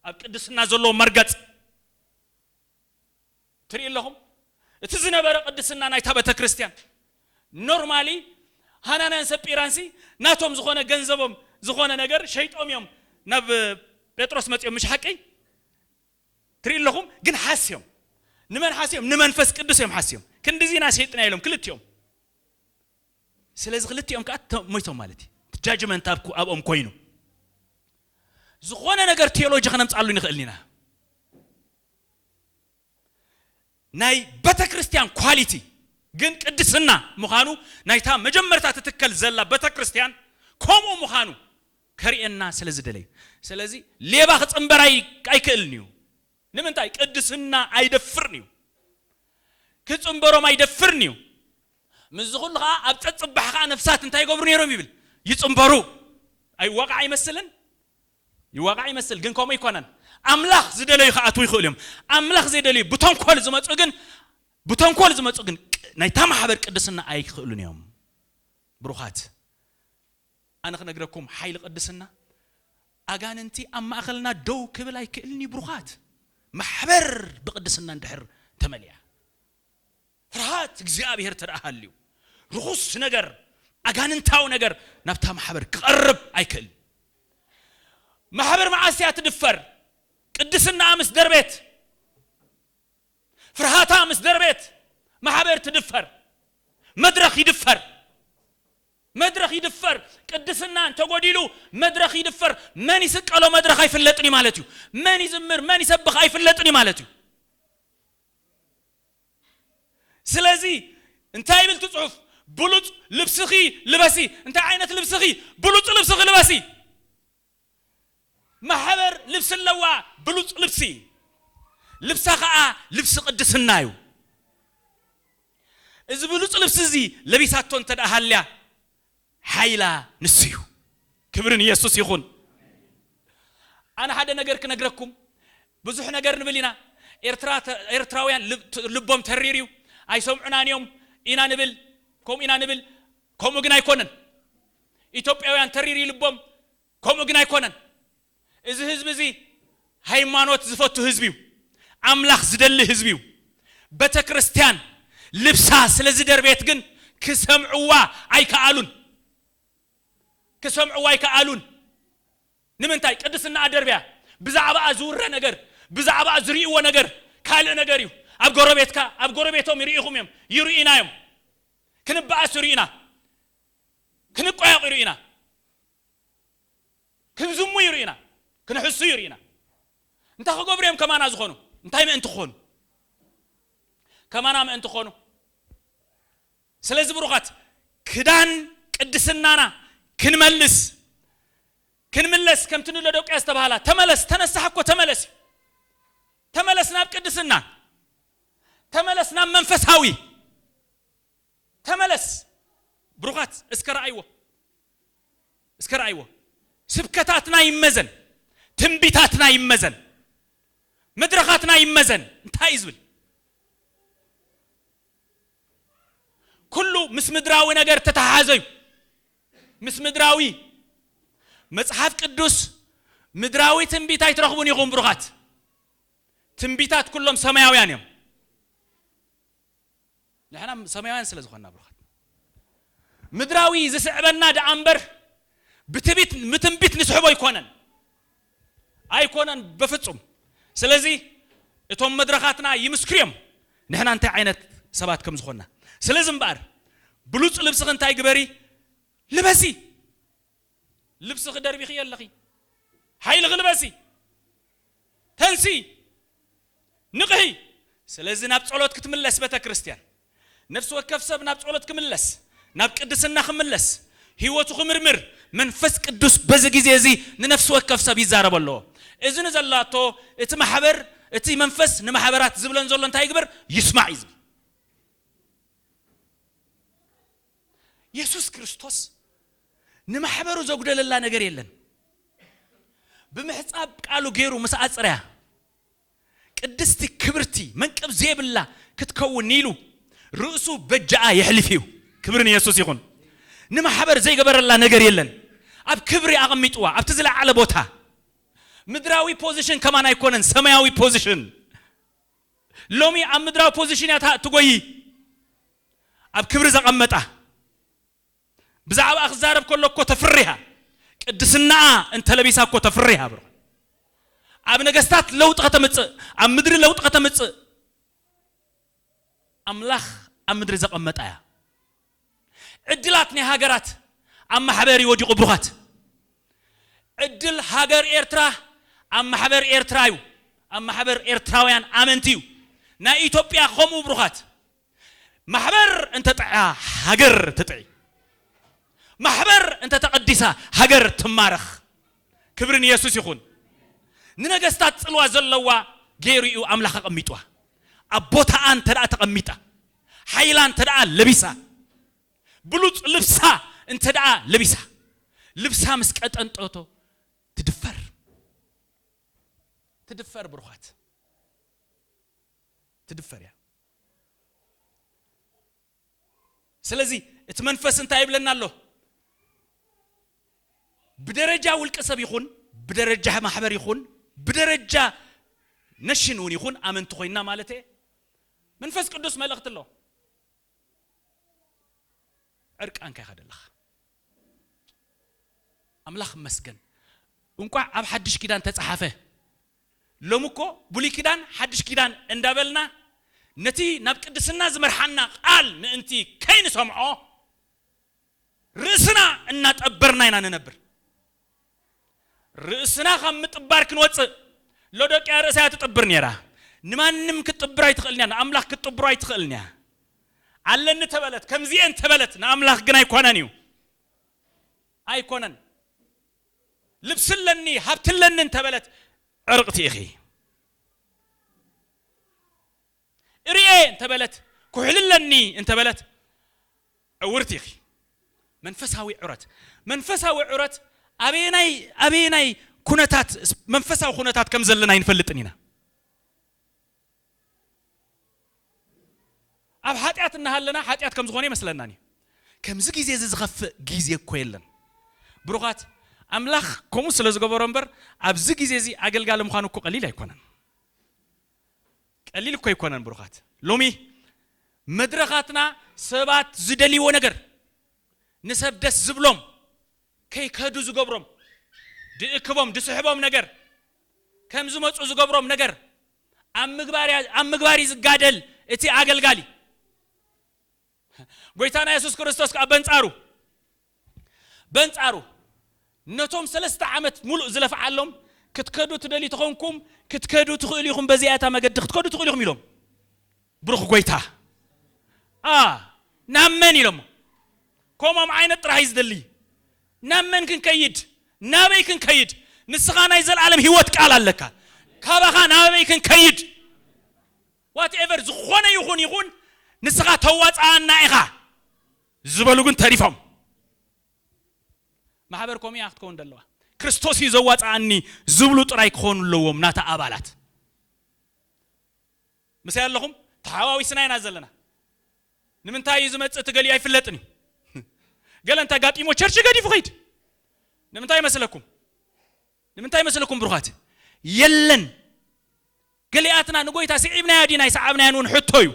A: ኣብ ቅድስና ዘለዎም መርገጽ ትሪኡ ኣለኹም እቲ ዝነበረ ቅድስና ናይታ ቤተክርስትያን ኖርማሊ ሃናንያን ሰጲራንሲ ናቶም ዝኾነ ገንዘቦም ዝኾነ ነገር ሸይጦም እዮም ናብ ጴጥሮስ መጺኦም ምሽ ሓቂ ትሪኡ ኣለኹም ግን ሓስዮም ንመን ሓስዮም ንመንፈስ ቅዱስ እዮም ሓስዮም ክንድዚ ኢና ሸጥና ኢሎም ክልቲኦም ስለዚ ክልቲኦም ከዓ ሞይቶም ማለት እዩ ጃጅመንት ኣብኦም ኮይኑ ዝኾነ ነገር ቴዎሎጂ ከነምፅኣሉ ንኽእል ኢና ናይ ቤተ ክርስቲያን ኳሊቲ ግን ቅድስና ምዃኑ ናይታ መጀመርታ ትትከል ዘላ ቤተ ክርስቲያን ከምኡ ምዃኑ ከርእየና ስለ ዝደለየ ስለዚ ሌባ ክጽንበር ኣይ ኣይክእልን እዩ ንምንታይ ቅድስና ኣይደፍርን እዩ ክጽንበሮም ኣይደፍርን እዩ ምስዚ ኩሉ ከኣ ኣብ ጸጽባሕ ከኣ ነፍሳት እንታይ ይገብሩ ነይሮም ይብል ይጽንበሩ ኣይዋቃዕ ይመስልን ይዋቃዕ ይመስል ግን ከምኡ ኣይኮነን ኣምላኽ ዝደለዩ ክኣትዉ ይኽእሉ እዮም ኣምላኽ ዘይደለዩ ብተንኮል ዝመጹ ግን ብተንኮል ዝመጹ ግን ናይታ ማሕበር ቅድስና ኣይክእሉን እዮም ብሩኻት ኣነ ክነግረኩም ሓይሊ ቅድስና ኣጋንንቲ ኣብ ማእኸልና ደው ክብል ኣይክእልን እዩ ብሩኻት። ማሕበር ብቅድስና እንድሕር ተመሊኣ ፍርሃት እግዚኣብሔር ተደኣ ሃልዩ ርኹስ ነገር ኣጋንንታዊ ነገር ናብታ ማሕበር ክቐርብ ኣይክእልን። ማሕበር መዓስ እያ ትድፈር? ቅድስናኣ ምስ ደርቤት ፍርሃታ ምስ ደርቤት ማሕበር ትድፈር፣ መድረኽ ይድፈር። መድረኽ ይድፈር ቅድስና እንተጎዲሉ መድረኽ ይድፈር መን ይስቀሎ መድረኽ ኣይፍለጥን እዩ ማለት እዩ መን ይዝምር መን ይሰብኽ ኣይፍለጥን እዩ ማለት እዩ ስለዚ እንታይ ይብል እቲ ጽሑፍ ብሉጽ ልብስኺ ልበሲ እንታይ ዓይነት ልብስኺ ብሉጽ ልብስኺ ልበሲ ማሕበር ልብሲ ኣለዋ ብሉጽ ልብሲ ልብሳ ከኣ ልብሲ ቅድስና እዩ እዚ ብሉጽ ልብሲ እዚ ለቢሳቶ እንተ ሃልያ ሓይላ ንሱ እዩ ክብሪ ንየሱስ ይኹን ኣነ ሓደ ነገር ክነግረኩም ብዙሕ ነገር ንብል ኢና ኤርትራ ኤርትራውያን ልቦም ተሪር እዩ ኣይሰምዑናን እዮም ኢና ንብል ከምኡ ኢና ንብል ከምኡ ግን ኣይኮነን ኢትዮጵያውያን ተሪር እዩ ልቦም ከምኡ ግን ኣይኮነን እዚ ህዝቢ እዚ ሃይማኖት ዝፈቱ ህዝቢ እዩ ኣምላኽ ዝደሊ ህዝቢ እዩ በተክርስትያን ልብሳ ስለ ዝደርቤት ግን ክሰምዕዋ ኣይከኣሉን ክሰምዕዋ ኣይከኣሉን ንምንታይ ቅድስናኣ ደርብያ ብዛዕባኣ ዝውረ ነገር ብዛዕባኣ ዝርእይዎ ነገር ካልእ ነገር እዩ ኣብ ጎረቤትካ ኣብ ጎረቤቶም ይርኢኹም እዮም ይርኢና እዮም ክንበኣስ ይርኢና ክንቋየቕ ይርእዩና፣ ክንዝሙ ይርእዩና፣ ክንሕሱ ይርእዩና። እንታይ ክገብሩ እዮም ከማና ዝኾኑ? እንታይ ምእንቲ ክኾኑ? ከማና ምእንቲ ክኾኑ። ስለዚ ብሩኻት ክዳን ቅድስናና ክንመልስ ክንምለስ ከምቲ ንሎዶቅያ ዝተባህላ ተመለስ ተነሳሕ እኮ ተመለስ እዩ ተመለስ ናብ ቅድስና ተመለስ ናብ መንፈሳዊ ተመለስ ብሩኻት እስከ ረኣይዎ እስከ ረኣይዎ ስብከታትና ይመዘን ትንቢታትና ይመዘን መድረኻትና ይመዘን እንታይ እዩ ዝብል ኩሉ ምስ ምድራዊ ነገር ተተሓሓዘ እዩ ምስ ምድራዊ መጽሓፍ ቅዱስ ምድራዊ ትንቢት ኣይትረኽቡን ኢኹም ብሩኻት ትንቢታት ኩሎም ሰማያውያን እዮም ንሕና ሰማያውያን ስለ ዝኾንና ብሩኻት ምድራዊ ዝስዕበና ደኣ እምበር ብትቢት ምትንቢት ንስሕቦ ኣይኮነን ኣይኮነን በፍጹም ስለዚ እቶም መድረኻትና ይምስክርዮም ንሕና እንታይ ዓይነት ሰባት ከም ዝኾንና ስለዚ እምበኣር ብሉጽ ልብስኺ እንታይ ግበሪ ልበሲ ልብስኺ ደርቢኺ የለኺ ሓይልኺ ልበሲ ተንስኢ ንቕሒ ስለዚ ናብ ጸሎት ክትምለስ ቤተክርስትያን ነፍሲ ወከፍ ሰብ ናብ ጸሎት ክምለስ ናብ ቅድስና ክምለስ ሕይወቱ ክምርምር መንፈስ ቅዱስ በዚ ጊዜ እዚ ንነፍሲ ወከፍ ሰብ ይዛረቦ ኣለዎ እዚ ንዘላቶ እቲ ማሕበር እቲ መንፈስ ንማሕበራት ዝብለን ዘሎ እንታይ ይግበር ይስማዕ እዩ ዝብል። የሱስ ክርስቶስ ንማሕበሩ ዘጉደለላ ነገር የለን ብምሕጻብ ቃሉ ገይሩ ምስ ኣጽረያ ቅድስቲ ክብርቲ መንቅብ ዘይብላ ክትከውን ኢሉ ርእሱ በጃኣ የሕሊፍ እዩ ክብሪ ንየሱስ ይኹን ንማሕበር ዘይገበረላ ነገር የለን ኣብ ክብሪ ኣቐሚጥዋ ኣብቲ ዝለዓለ ቦታ ምድራዊ ፖዚሽን ከማን ኣይኮነን ሰማያዊ ፖዚሽን ሎሚ ኣብ ምድራዊ ፖዚሽን እያ እታ እትጎዪ ኣብ ክብሪ ዘቐመጣ ብዛዕባኣ ክዛረብ ከሎ እኮ ተፍርያ ቅድስናኣ እንተለቢሳ እኮ ተፍርያ ብሮ ኣብ ነገስታት ለውጢ ከተምጽእ ኣብ ምድሪ ለውጢ ከተምጽእ ኣምላኽ ኣብ ምድሪ ዘቐመጣ እያ ዕድላት ናይ ሃገራት ኣብ ማሕበር እዩ ወዲቁ ብሩኻት። ዕድል ሃገር ኤርትራ ኣብ ማሕበር ኤርትራ እዩ ኣብ ማሕበር ኤርትራውያን ኣመንቲ እዩ ናይ ኢትዮጵያ ከምኡ ብሩኻት። ማሕበር እንተጥዕያ ሃገር ትጥዒ ማሕበር እንተተቀዲሳ ሃገር ትማረኽ ክብሪ ንየሱስ ይኹን። ንነገስታት ጽልዋ ዘለዋ ጌሩ እዩ ኣምላኽ ኣቀሚጥዋ ኣብ ቦታኣ እንተ ተቀሚጣ። ሓይላ እንተደኣ ለቢሳ፣ ብሉጽ ልብሳ እንተደኣ ለቢሳ፣ ልብሳ ምስ ቀጠንጠቶ ትድፈር። ትድፈር ብሩኻት፣ ትድፈር እያ። ስለዚ እቲ መንፈስ እንታይ ይብለና ኣሎ? ብደረጃ ውልቀ ሰብ ይኹን ብደረጃ ማሕበር ይኹን ብደረጃ ነሽን እውን ይኹን ኣመንቲ ኮይና ማለት እየ መንፈስ ቅዱስ መልእኽቲ ኣሎ። ዕርቃንካ ኢኻ ዘለኻ። ኣምላኽ ይመስገን እንቋዕ ኣብ ሓድሽ ኪዳን ተጻሓፈ። ሎሚ እኮ ብሉይ ኪዳን ሓድሽ ኪዳን እንዳበልና ነቲ ናብ ቅድስና ዝመርሓና ቃል ምእንቲ ከይንሰምዖ ርእስና እናጠበርና ኢና ንነብር ርእስና ካብ ምጥባር ክንወጽእ ሎዶቅያ ርእሳ እያ ትጥብር ኔራ ንማንም ክትጥብር ኣይትኽእልን እያ ንኣምላኽ ክትጥብሮ ኣይትኽእልን እያ ኣለኒ ተበለት ከምዚኤን ተበለት ንኣምላኽ ግን ኣይኮነን እዩ ኣይኮነን ልብሲ ኣለኒ ሃብቲ ኣለኒ እንተበለት ዕርቕቲ ኢኺ እርኤ እንተ በለት ኩሕሊ ኣለኒ እንተ በለት ዕውርቲ ኢኺ። መንፈሳዊ ዑረት መንፈሳዊ ዑረት ኣበየናይ ኣበየናይ ኩነታት መንፈሳዊ ኩነታት ከም ዘለና ኣይንፈልጥን ኢና። ኣብ ሓጢኣት እናሃለና ሓጢኣት ከም ዝኾነ ይመስለናን እዩ። ከምዚ ግዜ እዚ ዝኸፍእ ግዜ እኮ የለን ብሩኻት ኣምላኽ ከምኡ ስለ ዝገበሮ እምበር ኣብዚ ግዜ እዚ ኣገልጋሊ ምዃኑ እኮ ቀሊል ኣይኮነን። ቀሊል እኮ ኣይኮነን ብሩኻት ሎሚ መድረኻትና ሰባት ዝደልይዎ ነገር ንሰብ ደስ ዝብሎም ከይከዱ ዝገብሮም ድእክቦም ድስሕቦም ነገር ከም ዝመጹ ዝገብሮም ነገር ኣብ ምግባር እያ ኣብ ምግባር እዩ ዝጋደል እቲ ኣገልጋሊ። ጐይታና የሱስ ክርስቶስ ከኣ በንጻሩ በንጻሩ ነቶም ሰለስተ ዓመት ምሉእ ዝለፍዓሎም ክትከዱ ትደልዩ ተኾንኩም ክትከዱ ትኽእሉ ኢኹም በዚኣ እታ መገዲ ክትከዱ ትኽእሉ ኢኹም ኢሎም ብሩኽ ጐይታ ኣ ናብ መን ኢሎሞ ከምኦም ዓይነት ጥራሕ እዩ ዝደሊ ናብ መን ክንከይድ ናበይ ክንከይድ ንስኻ ናይ ዘለኣለም ህይወት ቃል ኣለካ ካባኻ ናበይ ክንከይድ ዋት ኤቨር ዝኾነ ይኹን ይኹን ንስኻ ተዋጽኣና ኢኻ ዝበሉ ግን ተሪፎም። ማሕበር ከምኡ እያ ክትከውን ዘለዋ። ክርስቶስ እዩ ዘዋጽኣኒ ዝብሉ ጥራይ ክኾኑ ኣለዎም ናታ ኣባላት። ምሳይ ኣለኹም ተሓዋዊስና ኢና ዘለና። ንምንታይ እዩ ዝመጽእ እቲ ገሊኡ ኣይፍለጥን እዩ። ገለ እንተ ኣጋጢሞ ቸርች ገዲፉ ከይድ ንምንታይ ይመስለኩም? ንምንታይ ይመስለኩም ብሩኻት? የለን ገሊኣትና ንጐይታ ስዒብናዮ ዲና ኣይሰዓብናዮን እውን ሕቶ እዩ።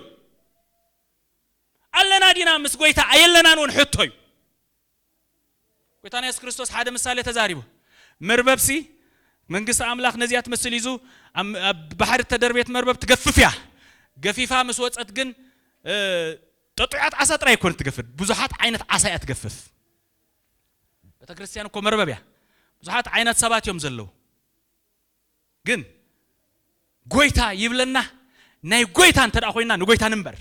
A: ኣለና ዲና ምስ ጐይታ ኣየለናን እውን ሕቶ እዩ። ጐይታና የሱስ ክርስቶስ ሓደ ምሳሌ ተዛሪቡ። መርበብሲ መንግስቲ ኣምላኽ ነዚኣ ትመስል እዩ፣ እዙ ኣብ ባሕሪ እተደርቤት መርበብ ትገፍፍ እያ፣ ገፊፋ ምስ ወጸት ግን ጠጡዓት ዓሳ ጥራይ ኣይኮነት ትገፍፍ፣ ብዙሓት ዓይነት ዓሳ እያ ትገፍፍ። ቤተ ክርስቲያን እኮ መርበብ እያ። ብዙሓት ዓይነት ሰባት እዮም ዘለዉ። ግን ጎይታ ይብለና ናይ ጎይታ እንተ ኮይና ንጎይታ ንንበር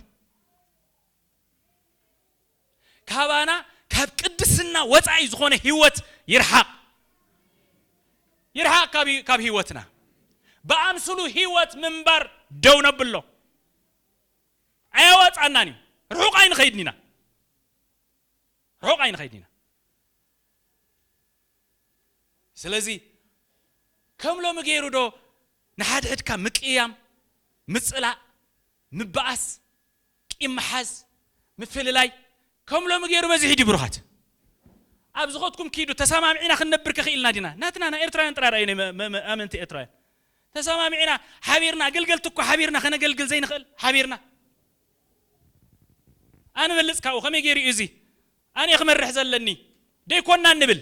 A: ካባና ካብ ቅድስና ወፃኢ ዝኾነ ህይወት ይርሓቕ ይርሓቕ ካብ ህይወትና ብኣምስሉ ህይወት ምንባር ደው ነብሎ ኣየዋፃናን እዩ ርሑቕ ኣይንኸይድን ኢና ርሑቕ ኣይንኸይድን ኢና ስለዚ ከም ሎሚ ገይሩ ዶ ንሓድሕድካ ምቅያም፣ ምጽላእ፣ ምባኣስ፣ ቂም ምሓዝ፣ ምፍልላይ ከም ሎሚ ገይሩ በዚሑ ድዩ ብሩኻት? ኣብ ዝኸድኩም ኪዱ ተሳማሚዕና ክንነብር ከ ኪኢልና ዲና? ናትና ናይ ኤርትራውያን ጥራይ ርኣዩ ናይ ኣመንቲ ኤርትራውያን ተሳማሚዕና ሓቢርና ኣገልገልቲ እኳ ሓቢርና ከነገልግል ዘይንኽእል ሓቢርና ኣንበልጽ ካብኡ ከመይ ገይሩ እዩ እዚ ኣነ ክመርሕ ዘለኒ ደይኮናን ንብል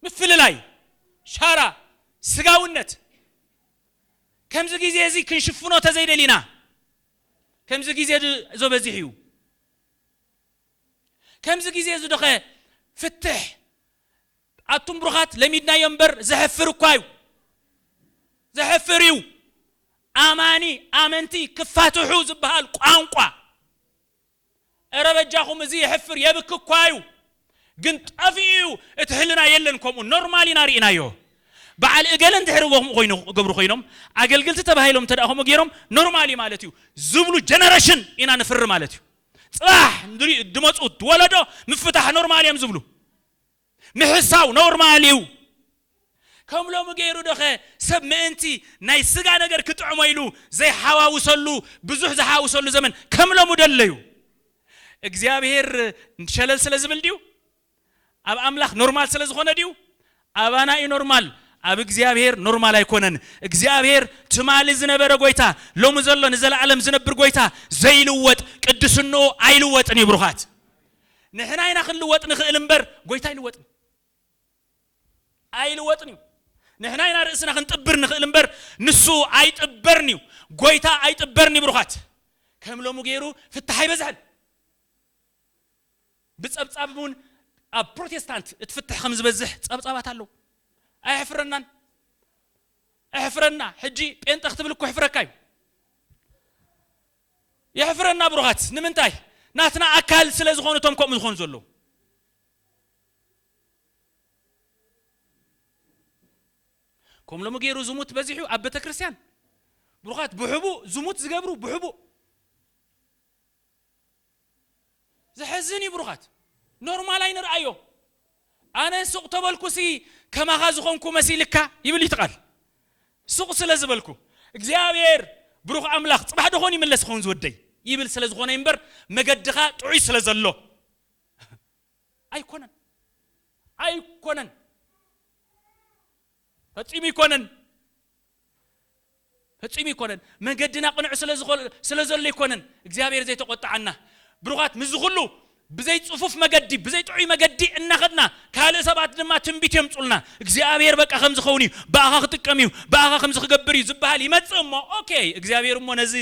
A: ምፍልላይ ሻራ ስጋውነት ከምዚ ግዜ እዚ ክንሽፍኖ ተዘይደሊና ከምዚ ግዜ ዶ በዚሕ እዩ ከምዚ ግዜ እዚ ዶኸ ፍትሕ ኣቱም ብሩኻት ለሚድናዮ እምበር ዘሕፍር እኳ እዩ ዘሕፍር እዩ ኣማኒ ኣመንቲ ክፋትሑ ዝበሃል ቋንቋ እረ በጃኹም እዚ የሕፍር የብክ እኳ እዩ ግን ጠፊኡ እዩ እቲ ሕልና የለን ከምኡ ኖርማል ኢና ርኢናዮ በዓል እገለ እንድሕር እዎ ከምኡ ኮይኑ ገብሩ ኮይኖም ኣገልግልቲ ተባሂሎም እንተ ከምኡ ገይሮም ኖርማል እዩ ማለት እዩ ዝብሉ ጀነረሽን ኢና ንፍሪ ማለት እዩ ፅባሕ ድመፁ ወለዶ ምፍታሕ ኖርማል እዮም ዝብሉ ምሕሳው ኖርማል እዩ። ከም ሎሚ ገይሩዶኸ ሰብ ምእንቲ ናይ ስጋ ነገር ክጥዕሞ ኢሉ ዘይሓዋውሰሉ ብዙሕ ዝሓውሰሉ ዘመን ከም ሎሚዶ ኣሎዩ? እግዚኣብሄር ሸለል ስለ ዝብል ድዩ? ኣብ ኣምላኽ ኖርማል ስለ ዝኾነ ድዩ? ኣባና እዩ ኖርማል ኣብ እግዚኣብሄር ኖርማል ኣይኮነን። እግዚኣብሄር ትማሊ ዝነበረ ጎይታ ሎሚ ዘሎ ንዘለኣለም ዝነብር ጎይታ ዘይልወጥ ቅድስንኡ ኣይልወጥን እዩ ብሩኻት። ንሕና ኢና ክንልወጥ ንኽእል እምበር ጎይታ ኣይልወጥን ኣይልወጥን እዩ ንሕና ኢና ርእስና ክንጥብር ንኽእል እምበር ንሱ ኣይጥበርን እዩ ጎይታ ኣይጥበርን እዩ ብሩኻት ከም ሎሙ ገይሩ ፍታሕ ኣይበዝሐን ብጸብጻብ እውን ኣብ ፕሮቴስታንት እቲ ፍትሕ ከም ዝበዝሕ ጸብጻባት ኣለዉ ኣየሕፍረናን ኣሕፍረና ሕጂ ጴንጠ ክትብል እኮ ሕፍረካ እዩ የሕፍረና ብሩኻት ንምንታይ ናትና ኣካል ስለ ዝኾኑ እቶም ከምኡ ዝኾኑ ዘለዉ። ከም ሎሚ ገይሩ ዝሙት በዚሑ ኣብ ቤተክርስትያን ብሩኻት ብሕቡእ ዝሙት ዝገብሩ ብሕቡእ ዘሕዝን እዩ ብሩኻት ኖርማል ኣይንርኣዮ። ኣነ ሱቕ ተበልኩሲ ከማኻ ዝኾንኩ መሲልካ ይብል እዩ እቲ ቃል ሱቕ ስለ ዝበልኩ እግዚኣብሔር ብሩኽ ኣምላኽ ጽባሕ ዶኾን ይምለስ ይኸውን ዝወደይ ይብል ስለ ዝኾነ እዩ እምበር መገድኻ ጥዑይ ስለ ዘሎ ኣይኮነን ኣይኮነን ፈጺሙ ኣይኮነን ፈጺሙ ኣይኮነን መገድና ቅኑዕ ስለ ዝኾ ስለ ዘሎ ኣይኮነን እግዚኣብሄር ዘይተቖጥዓና ብሩኻት ምስዚ ኩሉ ብዘይ ጽፉፍ መገዲ ብዘይ ጥዑይ መገዲ እናኸድና ካልእ ሰባት ድማ ትንቢት የምጹልና እግዚኣብሄር በቃ ከምዚ ክኸውን እዩ ብኣኻ ክጥቀም እዩ ብኣኻ ከምዚ ክገብር እዩ ዝበሃል ይመጽእ እሞ ኦኬ እግዚኣብሄር እሞ ነዚ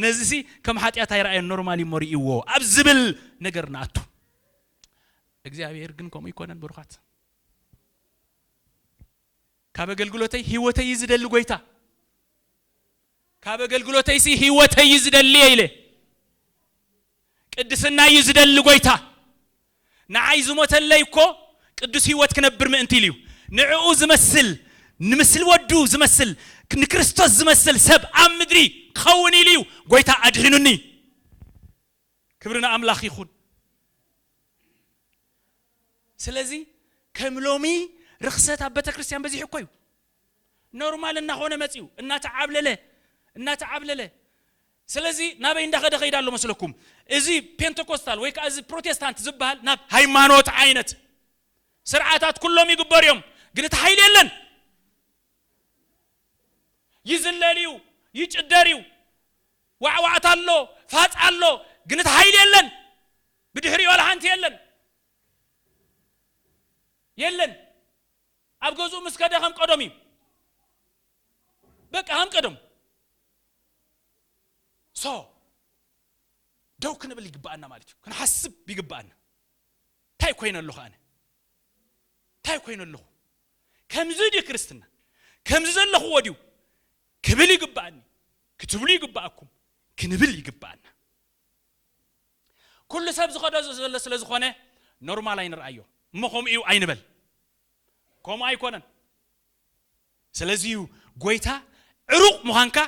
A: ነዚሲ ከም ሓጢኣት ኣይረኣዮን ኖርማል እዩ እሞ ርእይዎ ኣብ ዝብል ነገር ንኣቱ እግዚኣብሄር ግን ከምኡ ኣይኮነን ብሩኻት ካብ ኣገልግሎተይ ህይወተይ እዩ ዝደሊ ጎይታ ካብ ኣገልግሎተይ ሲ ህይወተይ እዩ ዝደሊ ኢለ ቅድስና እዩ ዝደሊ ጎይታ ንዓይ ዝሞተለይ እኮ ቅዱስ ህይወት ክነብር ምእንቲ ኢሉ እዩ ንዕኡ ዝመስል ንምስል ወዱ ዝመስል ንክርስቶስ ዝመስል ሰብ ኣብ ምድሪ ክኸውን ኢሉ እዩ ጎይታ ኣድሒኑኒ ክብሪ ንኣምላኽ ይኹን። ስለዚ ከም ሎሚ ርኽሰት ኣብ ቤተክርስትያን በዚሑ እኮ እዩ። ኖርማል እናኾነ መጺኡ እናተዓብለለ እናተዓብለለ ስለዚ ናበይ እንዳኸደ ከይዳ ኣሎ መስለኩም? እዚ ፔንተኮስታል ወይ ከዓ እዚ ፕሮቴስታንት ዝበሃል ናብ ሃይማኖት ዓይነት ስርዓታት ኩሎም ይግበሩ እዮም፣ ግን እቲ ሓይሊ የለን። ይዝለል እዩ፣ ይጭደር እዩ፣ ዋዕዋዕታ ኣሎ ፋፃ ኣሎ ግን እቲ ሃይሊ የለን ብድሕሪኡ ዋላ ሓንቲ የለን የለን ኣብ ገዝኡ ምስ ከደ ከም ቀደሙ እዩ በቃ ከም ቀደሙ ሶ ደው ክንብል ይግባኣና ማለት እዩ ክንሓስብ ይግባኣና እንታይ ኮይነ ኣለኹ ኣነ እንታይ ኮይነ ኣለኹ ከምዚ ድዩ ክርስትና ከምዚ ዘለኹዎ ድዩ ክብል ይግባኣኒ ክትብሉ ይግበኣኩም ክንብል ይግበኣና ኩሉ ሰብ ዝኸዶ ዘሎ ስለ ዝኾነ ኖርማል ኣይንርኣዮ እሞ ከምኡ እዩ ኣይንበል ከምኡ ኣይኮነን ስለዚ እዩ ጎይታ ዕሩቕ ምዃንካ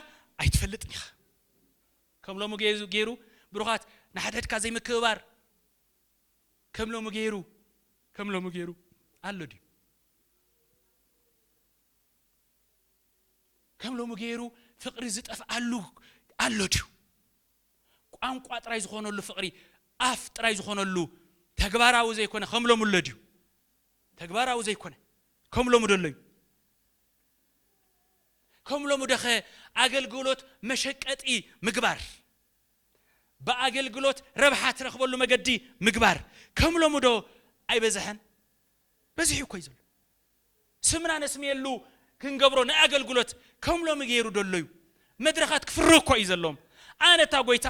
A: ኣይትፈልጥን ኢኻ ከም ሎሚ ገይሩ ብሩኻት ንሓድሕድካ ዘይምክብባር ከም ሎሚ ገይሩ ከም ሎሚ ገይሩ ኣሎ ድዩ ከም ሎሚ ገይሩ ፍቕሪ ዝጠፍኣሉ ኣሎ ድዩ? ቋንቋ ጥራይ ዝኾነሉ ፍቕሪ፣ ኣፍ ጥራይ ዝኾነሉ፣ ተግባራዊ ዘይኮነ ከም ሎሚ ኣሎ ድዩ? ተግባራዊ ዘይኮነ ከም ሎሚ ዶ ኣሎ እዩ? ከም ሎሚ ዶኸ ኣገልግሎት መሸቀጢ ምግባር፣ ብኣገልግሎት ረብሓ ትረኽበሉ መገዲ ምግባር ከም ሎሚ ዶ ኣይበዝሐን? በዚሑ እኮ እዩ ዘሎ። ስምና ነስምየሉ ክንገብሮ ንኣገልግሎት ከም ሎሚ ገይሩ ዶ ኣሎ እዩ መድረኻት ክፍርህ እኮ እዩ ዘለዎም ኣነ እታ ጎይታ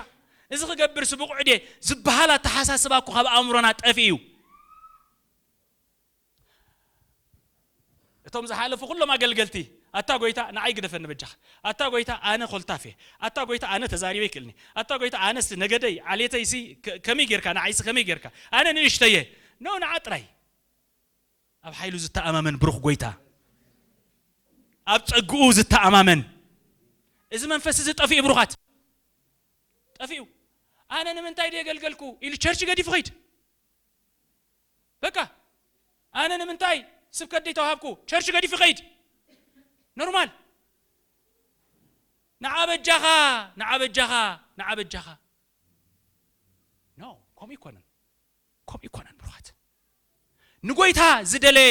A: እዚ ክገብርሲ ብቑዕ ድየ ዝብሃል ኣተሓሳስባ እኮ ካብ ኣእምሮና ጠፊኡ እዩ እቶም ዝሓለፉ ኩሎም ኣገልገልቲ ኣታ ጎይታ ንዓይ ግደፈኒ በጃኻ ኣታ ጎይታ ኣነ ኮልታፍ እየ ኣታ ጎይታ ኣነ ተዛሪበ ይክእልኒ ኣታ ጎይታ ኣነስ ነገደይ ዓሌተይሲ ከመይ ጌርካ ንዓይሲ ከመይ ጌርካ ኣነ ንእሽተየ ኖ ንዓ ጥራይ ኣብ ሓይሉ ዝተኣማመን ብሩኽ ጐይታ፣ ኣብ ጸግኡ ዝተኣማመን እዚ መንፈስ እዚ ጠፊኡ ብሩኻት ጠፊኡ። ኣነ ንምንታይ ድየ ገልገልኩ ኢሉ ቸርች ገዲፉ ኺድ በቃ ኣነ ንምንታይ ስብከት ደይተዋሃብኩ ቸርች ገዲፉ ኺድ ኖርማል ንዓ በጃኻ ንዓ በጃኻ ንዓ በጃኻ ኖ ከምኡ ኣይኮነን። ከምኡ ኣይኮነን ብሩኻት። ንጎይታ ዝደለየ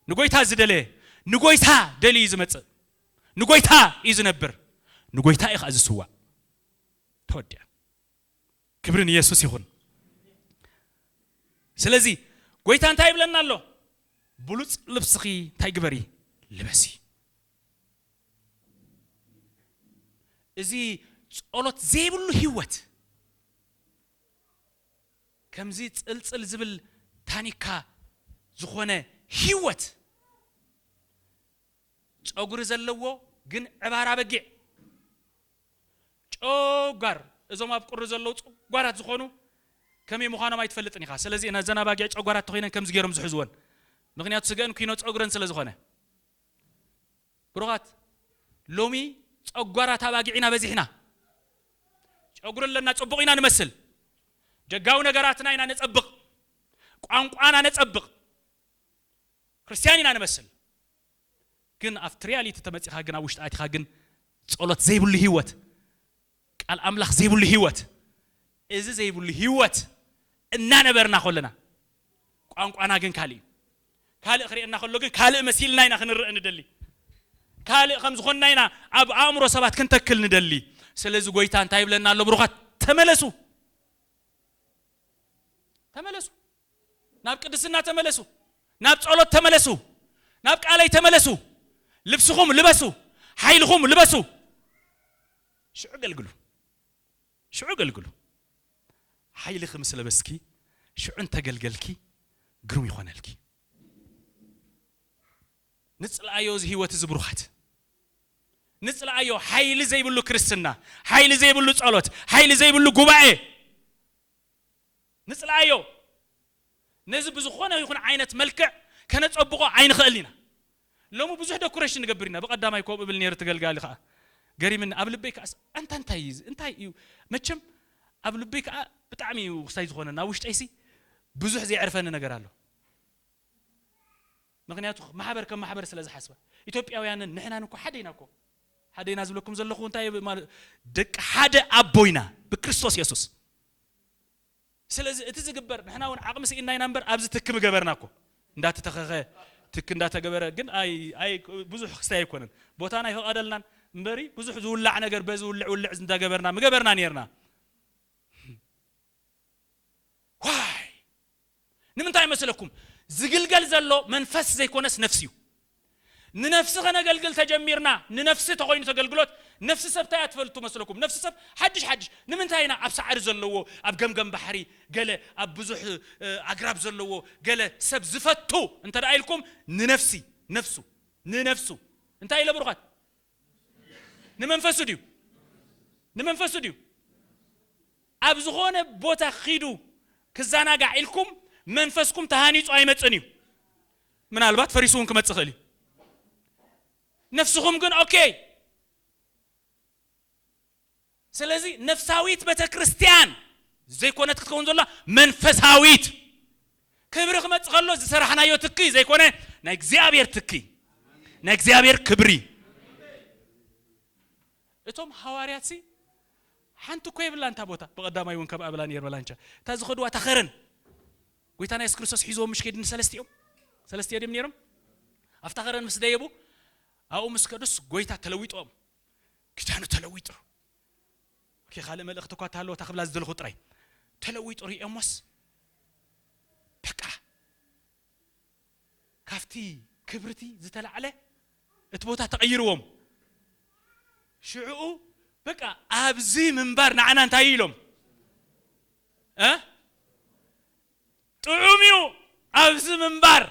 A: ንጎይታ ዝደለየ ንጎይታ ደልዩ እዩ ዝመጽእ፣ ንጎይታ እዩ ዝነብር፣ ንጎይታ እዩ ከኣ ዝስዋእ። ተወዲኣ። ክብሪ ንየሱስ ይኹን። ስለዚ ጎይታ እንታይ ይብለና ኣሎ? ብሉጽ ልብስኺ እንታይ ግበሪ? ልበሲ። እዚ ጸሎት ዘይብሉ ህይወት ከምዚ ጽልጽል ዝብል ታኒካ ዝኾነ ሂወት ጸጉሪ ዘለዎ ግን ዕባር ኣበጊዕ ጨጓር እዞም ኣብ ቁሪ ዘለዉ ጸጓራት ዝኾኑ ከመይ ምዃኖም ኣይትፈልጥን ኢኻ ስለዚ እዘን ኣባጊዕ ጨጓራት ተኾይነን ከምዚ ጌሮም ዝሕዝወን ምኽንያቱ ስገእን ኲኖ ጸጉረን ስለ ዝኾነ ብሩኻት ሎሚ ጨጓራት ኣባጊዕ ኢና በዚሕና ጨጉሪ ኣለና ጽቡቕ ኢና ንመስል ደጋዊ ነገራትና ኢና ነጸብቕ ቋንቋና ነጸብቕ ክርስትያን ኢና ንመስል ግን ኣብቲ ሪያሊቲ ተመጺኻ ግን ኣብ ውሽጢ ኣቲኻ ግን ጸሎት ዘይብሉ ህይወት ቃል ኣምላኽ ዘይብሉ ህይወት እዚ ዘይብሉ ህይወት እናነበርና ከሎና ቋንቋና ግን ካልእ እዩ ካልእ ክርእየና ከሎ ግን ካልእ መሲልና ኢና ክንርእ ንደሊ ካልእ ከም ዝኾንና ኢና ኣብ ኣእምሮ ሰባት ክንተክል ንደሊ ስለዚ ጎይታ እንታይ ይብለና ኣሎ ብሩኻት ተመለሱ ተመለሱ ናብ ቅድስና ተመለሱ ናብ ጸሎት ተመለሱ ናብ ቃለይ ተመለሱ ልብስኹም ልበሱ ሓይልኹም ልበሱ ሽዑ ገልግሉ ሽዑ ገልግሉ ሓይልኪ ምስ ለበስኪ ሽዑ እንተ ገልገልኪ ግሩም ይኾነልኪ ንጽልኣዮ እዚ ህይወት እዚ ብሩኻት ንጽልኣዮ ሓይሊ ዘይብሉ ክርስትና ሓይሊ ዘይብሉ ጸሎት ሓይሊ ዘይብሉ ጉባኤ ንጽላኣዮ ነዚ ብዝኾነ ይኹን ዓይነት መልክዕ ከነጸብቆ ኣይንኽእልን ኢና ሎሚ ብዙሕ ደኩረሽን ንገብር ኢና ብቀዳማይ ኮምኡ እብል ኔረ ትገልጋሊ ከኣ ገሪምኒ ኣብ ልበይ ከኣ ኣንታ እንታይ እዩ እዚ እንታይ እዩ መቸም ኣብ ልበይ ከኣ ብጣዕሚ እዩ ክሳይ ዝኾነኒ ኣብ ውሽጠይሲ ብዙሕ ዘየዕርፈኒ ነገር ኣሎ ምኽንያቱ ማሕበር ከም ማሕበር ስለ ዝሓስባ። ኢትዮጵያውያንን ንሕናን እኮ ሓደ ኢና እኮ። ሓደ ኢና ዝብለኩም ዘለኹ እንታይ እየ ማለ ደቂ ሓደ ኣቦ ኢና ብክርስቶስ የሱስ። ስለዚ እቲ ዝግበር ንሕና እውን ዓቕሚ ስኢንና ኢና እምበር ኣብዚ ትኪ ምገበርና እኮ። እንዳተተኸኸ ትኪ እንዳተገበረ ግን ኣይ ኣይ ብዙሕ ክስታይ ኣይኮነን። ቦታና ኣይፈቐደልናን እምበሪ ብዙሕ ዝውላዕ ነገር በዚ ውልዕ ውልዕ እንዳገበርና ምገበርና ኔርና። ዋይ ንምንታይ መስለኩም ዝግልገል ዘሎ መንፈስ ዘይኮነስ ነፍሲ እዩ ንነፍሲ ከነገልግል ተጀሚርና ንነፍሲ ተኮይኑ ተገልግሎት ነፍሲ ሰብ ታይ ኣትፈልቱ መስለኩም ነፍሲ ሰብ ሓድሽ ሓድሽ ንምንታይ ኢና ኣብ ሳዕሪ ዘለዎ ኣብ ገምገም ባሕሪ ገለ ኣብ ብዙሕ ኣግራብ ዘለዎ ገለ ሰብ ዝፈቱ እንተ ኢልኩም ንነፍሲ ነፍሱ ንነፍሱ እንታይ ኢለ ብሩኻት ንመንፈሱ ድዩ ንመንፈሱ ድዩ ኣብ ዝኾነ ቦታ ኺዱ ክዘናጋዕ ኢልኩም መንፈስኩም ተሃኒጹ ኣይመጽእን እዩ ምናልባት ፈሪሱ እውን ክመጽእ ኽእል እዩ ነፍስኹም ግን ኦኬ ስለዚ ነፍሳዊት ቤተክርስትያን ዘይኮነት ክትከውን ዘሎዋ መንፈሳዊት ክብሪ ክመጽእ ከሎ ዝሰራሕናዮ ትኪ ዘይኮነ ናይ እግዚኣብሔር ትኪ ናይ እግዚኣብሔር ክብሪ እቶም ሃዋርያት ሲ ሓንቲ እኮ የብላን እታ ቦታ ብቐዳማይ እውን ከምኣ ብላ ነር በላንቻ እታ ዝኸድዋ እታ ኸረን ጎይታና የሱስ ክርስቶስ ሒዞም ምሽ ከይድ ንሰለስቲኦም ሰለስቲኦ ድም ነይሮም ኣብታ ኸረን ምስ ደየቡ ኣብኡ ምስ ከዱስ ጎይታ ተለዊጦም ኪዳኑ ተለዊጡ እኪ ካልእ መልእኽቲ እኳ እተሃለወ እታ ክብላ ዝደለኹ ጥራይ ተለዊጡ ሪኤሞስ በቃ ካብቲ ክብርቲ ዝተላዕለ እቲ ቦታ ተቐይርዎም ሽዕኡ በቃ ኣብዚ ምንባር ንዓና እንታይ እዩ ኢሎም ጥዑም እዩ ኣብዚ ምንባር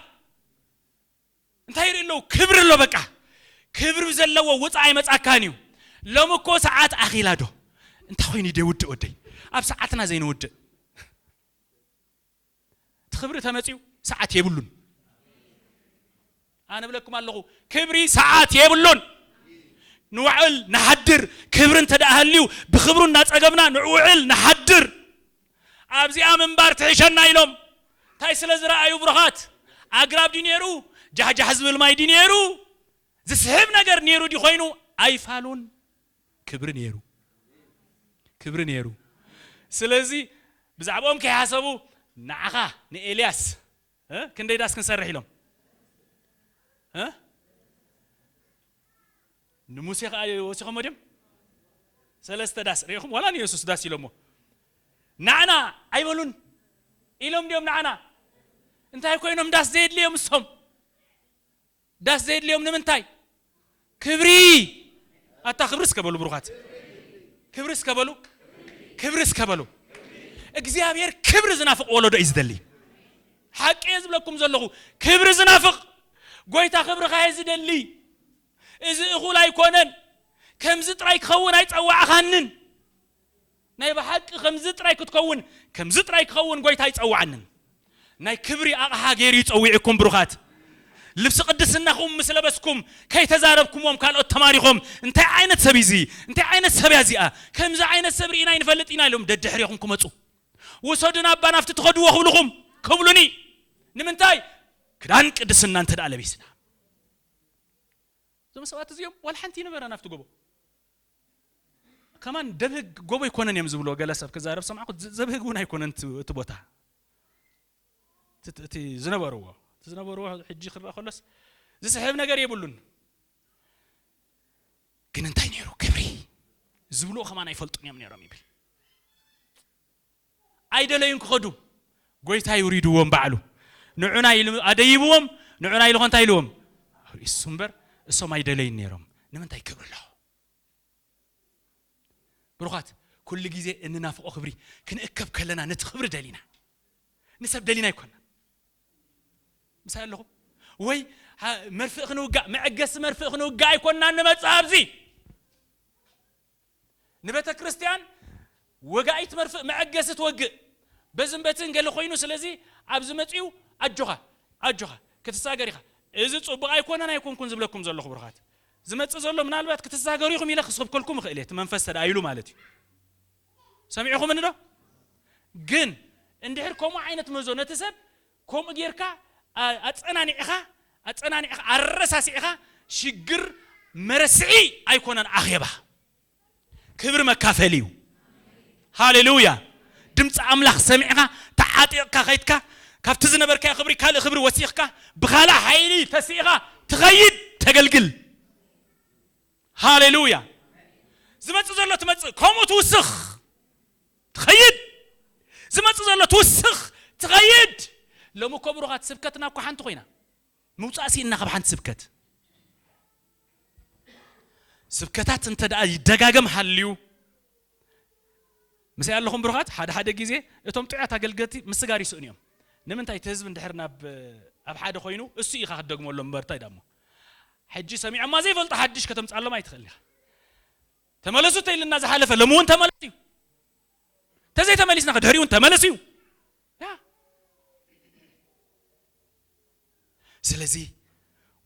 A: እንታይ ይርኢ ኣሎ ክብሪ ኣሎ በቃ ክብሪ ዘለዎ ውፃእ ኣይመፃካን እዩ ሎሚ እኮ ሰዓት ኣኺላ ዶ እንታይ ኮይኑ ደይውድእ ወደይ ኣብ ሰዓትና ዘይንውድእ እቲ ክብሪ ተመፅኡ ሰዓት የብሉን ኣነ ብለኩም ኣለኹ ክብሪ ሰዓት የብሉን ንውዕል ንሓድር ክብሪ እንተደኣ ሃልዩ ብክብሩ እናፀገብና ንውዕል ንሓድር ኣብዚኣ ምንባር ትሕሸና ኢሎም ታይ ስለ ዝረኣዩ ብሩኻት ኣግራብ ድዩ ኔሩ ጃሕጃሕ ዝብል ማይ ድዩ ኔሩ ዝስሕብ ነገር ኔሩ ድዩ ኮይኑ ኣይፋሉን ክብሪ ኔሩ ክብሪ ኔሩ ስለዚ ብዛዕባኦም ከይሓሰቡ ንዓኻ ንኤልያስ ክንደይ ዳስ ክንሰርሕ ኢሎም ንሙሴ ከኣ ወሲኾሞ ድዮም ሰለስተ ዳስ ሪኢኹም ዋላ ንየሱስ ዳስ ኢሎሞ ናዕና ኣይበሉን ኢሎም ድዮም ናዕና እንታይ ኮይኖም ዳስ ዘየድልዮም እሶም ዳስ ዘየድልዮም ንምንታይ ክብሪ ኣታ ክብሪ እስከ በሉ ብሩኻት ክብሪ እስከ በሉ ክብሪ እስከ በሉ እግዚኣብሔር ክብሪ ዝናፍቕ ወለዶ እዩ ዝደሊ ሓቂ እየ ዝብለኩም ዘለኹ ክብሪ ዝናፍቕ ጎይታ ክብርኻ እየ ዝደሊ እዚ እኹል ኣይኮነን፣ ከምዚ ጥራይ ክኸውን ኣይጸዋዕኻንን። ናይ ብሓቂ ከምዚ ጥራይ ክትከውን፣ ከምዚ ጥራይ ክኸውን ጎይታ ኣይጸውዓንን። ናይ ክብሪ ኣቕሓ ገይሩ እዩ ጸዊዑኩም ብሩኻት። ልብሲ ቅድስናኹም ምስ ለበስኩም ከይተዛረብኩምዎም ካልኦት ተማሪኾም እንታይ ዓይነት ሰብ እዩ እዚ፣ እንታይ ዓይነት ሰብ እያ እዚኣ፣ ከምዚ ዓይነት ሰብ ርኢና ኣይንፈልጥን ኢና ኢሎም ደድሕሬኹም ክመጹ ውሰዱና እባ ናብቲ ትኸድዎ ክብልኹም ክብሉኒ። ንምንታይ? ክዳን ቅድስና እንተድኣ ለቢስና። እዞም ሰባት እዚኦም ዋላ ሓንቲ ይንበረን ኣብቲ ጎቦ ከማን ደብህግ ጎቦ ኣይኮነን እዮም ዝብልዎ ገለ ሰብ ክዛረብ ሰማዕኩ ዘብህግ እውን ኣይኮነን እቲ ቦታ እቲ ዝነበርዎ እቲ ዝነበርዎ ሕጂ ክረአ ከሎስ ዝስሕብ ነገር የብሉን ግን እንታይ ነይሩ ክብሪ ዝብልዎ ከማን ኣይፈልጡን እዮም ነይሮም ይብል ኣይደለዩን ክኸዱ ጎይታ ይውሪድዎም ባዕሉ ንዑና ኢሉ ኣደይብዎም ንዑና ኢሉ ከ እንታይ ኢልዎም እሱ እምበር እሶም ኣይደለዩን ነይሮም ንምንታይ ክብሪ ኣሎ ብሩኻት ኩሉ ግዜ እንናፍቆ ክብሪ ክንእከብ ከለና ነቲ ክብሪ ደሊና ንሰብ ደሊና ኣይኮና ምሳይ ኣለኹም ወይ መርፍእ ክንውጋእ መዕገሲ መርፍእ ክንውጋእ ኣይኮና ንመፅእ ኣብዚ ንቤተ ክርስትያን ወጋኢት መርፍእ መዐገሲ ትወግእ በዝን በትን ገለ ኮይኑ ስለዚ ኣብዚ መጺኡ ኣጆኻ ኣጆኻ ክትሳገር ኢኻ እዚ ጹቡቅ ኣይኮነን ኣይኮንኩን ዝብለኩም ዘለኹ ብሩኻት ዝመጽእ ዘሎ ምናልባት ክትሳገሩ ኢኹም ኢለ ክስብከልኩም እኽእል እየ እቲ መንፈስ ተደኣ ኢሉ ማለት እዩ ሰሚዕኹምኒ ዶ ግን እንድሕር ከምኡ ዓይነት መዞ ነቲ ሰብ ከምኡ ጌርካ ኣጸናኒዕኻ ኣጸናኒዕኻ ኣረሳሲዕኻ ሽግር መረስዒ ኣይኮነን ኣኼባ ክብሪ መካፈሊ እዩ ሃሌሉያ ድምጺ ኣምላኽ ሰሚዕኻ ተዓጢቕካ ከይትካ ካብቲ ዝነበርካዮ ክብሪ ካልእ ክብሪ ወሲኽካ ብኻልእ ሓይሊ ተሲእኻ ትኸይድ ተገልግል ሃሌሉያ ዝመጽእ ዘሎ ትመጽእ ከምኡ ትውስኽ ትኸይድ ዝመጽእ ዘሎ ትውስኽ ትኸይድ ሎሚ እኮ ብሩኻት ስብከትና እኮ ሓንቲ ኮይና ምውፃእ ሲእና ካብ ሓንቲ ስብከት ስብከታት እንተ ደኣ ይደጋገም ሃልዩ ምስይ ኣለኹም ብሩኻት ሓደ ሓደ ግዜ እቶም ጥዑያት ኣገልገልቲ ምስጋር ይስእኑ እዮም ንምንታይ እቲ ህዝቢ እንድሕር ናብ ኣብ ሓደ ኮይኑ እሱ ኢኻ ክትደግመሎም እምበር እንታይ ዳሞ ሕጂ ሰሚዖማ ዘይፈልጡ ሓድሽ ከተምጻሎም ኣይትኽእልን ኢኻ ተመለሱ ተይልና ዝሓለፈ ሎሚ እውን ተመለሱ እዩ ተዘይ ተመሊስና ከድሕሪ እውን ተመለሱ እዩ ስለዚ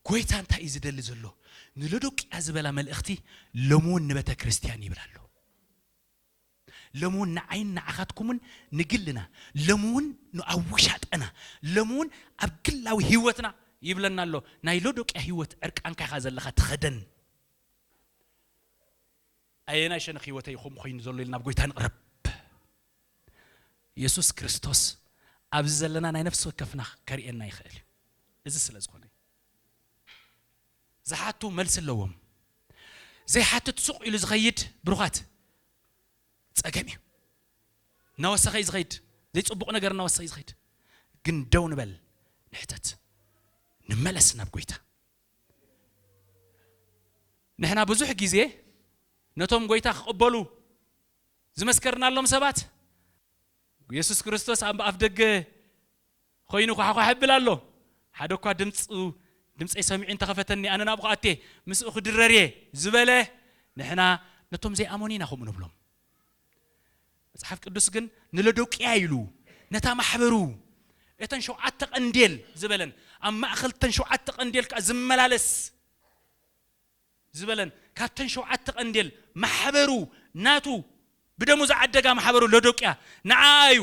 A: ጎይታ እንታይ እዩ ዝደሊ ዘሎ ንሎዶቅያ ዝበላ መልእኽቲ ሎሚ እውን ንቤተ ክርስቲያን ይብል ኣሎ ሎሚ ውን ንዓይን ንዓኻትኩምን ንግልና ሎሚ ውን ንኣብ ውሻጠና ሎሚ ውን ኣብ ግላዊ ሂወትና ይብለና ኣሎ ናይ ሎዶቅያ ሂወት ዕርቃንካ ኢኻ ዘለኻ ተኸደን ኣየናይ ሸነኽ ሂወተይ እዩ ከምኡ ኮይኑ ዘሎ ኢልና ኣብ ጎይታ ንቕረብ የሱስ ክርስቶስ ኣብዚ ዘለና ናይ ነፍሲ ወከፍና ከርእየና ይኽእል እዩ እዚ ስለ ዝኾነ እዩ ዝሓቱ መልሲ ኣለዎም ዘይሓትት ሱቅ ኢሉ ዝከይድ ብሩካት ፀገም እዩ እናወሰከ እዩ ዝከይድ ዘይፅቡቅ ነገር እናወሰከ እዩ ዝከይድ ግን ደው ንበል ንሕተት ንመለስ ናብ ጎይታ ንሕና ብዙሕ ግዜ ነቶም ጎይታ ክቕበሉ ዝመስከርናሎም ሰባት የሱስ ክርስቶስ ኣብ ኣፍ ደገ ኾይኑ ዃሕዃሕ የብል ኣሎ። ሓደ እኳ ድምጹ ድምጸይ ሰሚዑ እንተ ኸፈተኒ ኣነ ናብኡ ክኣቱ'የ፣ ምስኡ ክድረር እየ ዝበለ ንሕና ነቶም ዘይኣመኑ ኢና ከምኡ ንብሎም። መጽሓፍ ቅዱስ ግን ንሎዶቅያ ኢሉ ነታ ማሕበሩ እተን ሸውዓተ ቀንዴል ዝበለን ኣብ ማእከል እተን ሸውዓተ ቀንዴል ከኣ ዝመላለስ ዝበለን ካብተን ሸውዓተ ቀንዴል ማሕበሩ ናቱ ብደሙ ዝዓደጋ ማሕበሩ ሎዶቅያ ንዓኣ እዩ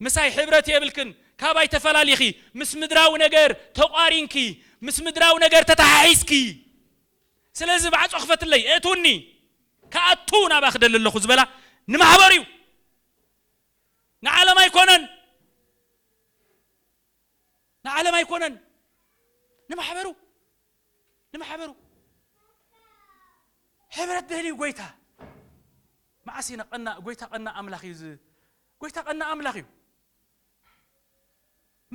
A: ምሳይ ሕብረት የብልክን ካባይ ተፈላሊኪ ምስ ምድራዊ ነገር ተቋሪንኪ ምስ ምድራዊ ነገር ተታሓሒዝኪ ስለዚ ማዕጾ ክፈትለይ እእትውኒ ክኣቱ ናባ ክደሊ ኣለኩ ዝበላ ንማሕበሩ እዩ ንዓለም ኣይኮነን ንዓለም ኣይኮነን ንማሕበሩ ንማሕበሩ ሕብረት ደልዩ ጎይታ መዓስ ኢና ቀናእ ጎይታ ቀናእ ኣምላኽ እዩ ዝ ጎይታ ቀናእ ኣምላኽ እዩ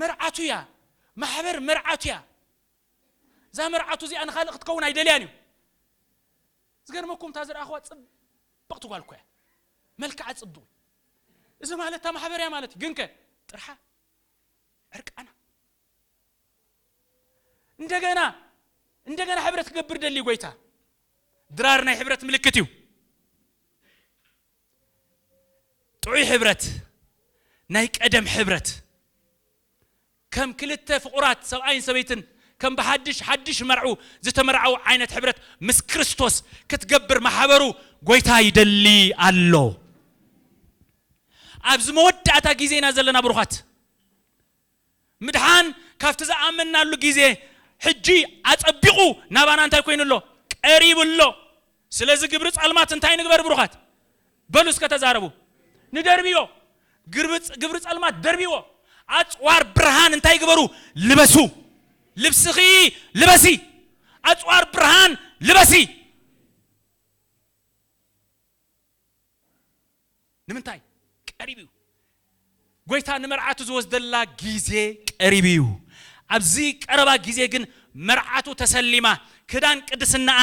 A: መርዓቱ እያ ማሕበር መርዓቱ እያ እዛ መርዓቱ እዚኣ ንካልእ ክትከውን ኣይደልያን እዩ ዝገርመኩም እታ ዝረኣኽዋ ፅብቕቲ ጓል እኮ እያ መልክዓ ፅቡቕ እዚ ማለት እታ ማሕበር እያ ማለት እዩ ግንከ ጥርሓ ዕርቃና እንደገና እንደገና ሕብረት ክገብር ደልዩ ጎይታ ድራር ናይ ሕብረት ምልክት እዩ ጥዑይ ሕብረት ናይ ቀደም ሕብረት ከም ክልተ ፍቑራት ሰብኣይን ሰበይትን ከም ብሓድሽ ሓድሽ መርዑ ዝተመርዓው ዓይነት ሕብረት ምስ ክርስቶስ ክትገብር ማሕበሩ ጎይታ ይደሊ ኣሎ ኣብዚ መወዳእታ ግዜና ዘለና ብሩኻት ምድሓን ካብቲ ዝኣመንናሉ ግዜ ሕጂ ኣጸቢቑ ናባና እንታይ ኮይኑ ኣሎ? ቀሪቡ ኣሎ። ስለዚ ግብሪ ጸልማት እንታይ ንግበር ብሩኻት? በሉ እስከ ተዛረቡ። ንደርብዮ። ግብሪ ጸልማት ደርብዎ። ኣጽዋር ብርሃን እንታይ ግበሩ? ልበሱ። ልብስኺ ልበሲ። ኣጽዋር ብርሃን ልበሲ። ንምንታይ ቀሪቡ እዩ ጎይታ ንመርዓቱ ዝወስደላ ግዜ ቀሪቡ እዩ ኣብዚ ቀረባ ግዜ ግን መርዓቱ ተሰሊማ ክዳን ቅድስናኣ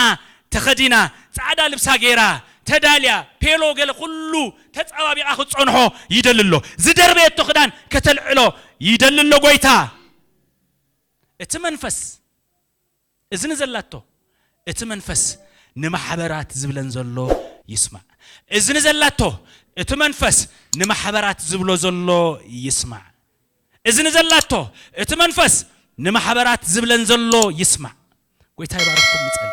A: ተኸዲና ጻዕዳ ልብሳ ጌራ ተዳልያ ፔሎ ገለ ኩሉ ተጻባቢቓ ክትጸንሖ ይደሊ ኣሎ ዝደርበየቶ ክዳን ከተልዕሎ ይደሊ ኣሎ ጎይታ እቲ መንፈስ እዝኒ ዘላቶ እቲ መንፈስ ንማሕበራት ዝብለን ዘሎ ይስማዕ እዝኒ ዘላቶ እቲ መንፈስ ንማሕበራት ዝብሎ ዘሎ ይስማዕ እዝኒ ዘላቶ እቲ መንፈስ ንማሕበራት ዝብለን ዘሎ ይስማዕ ጎይታ ይባርኽኩም ንጸሊ።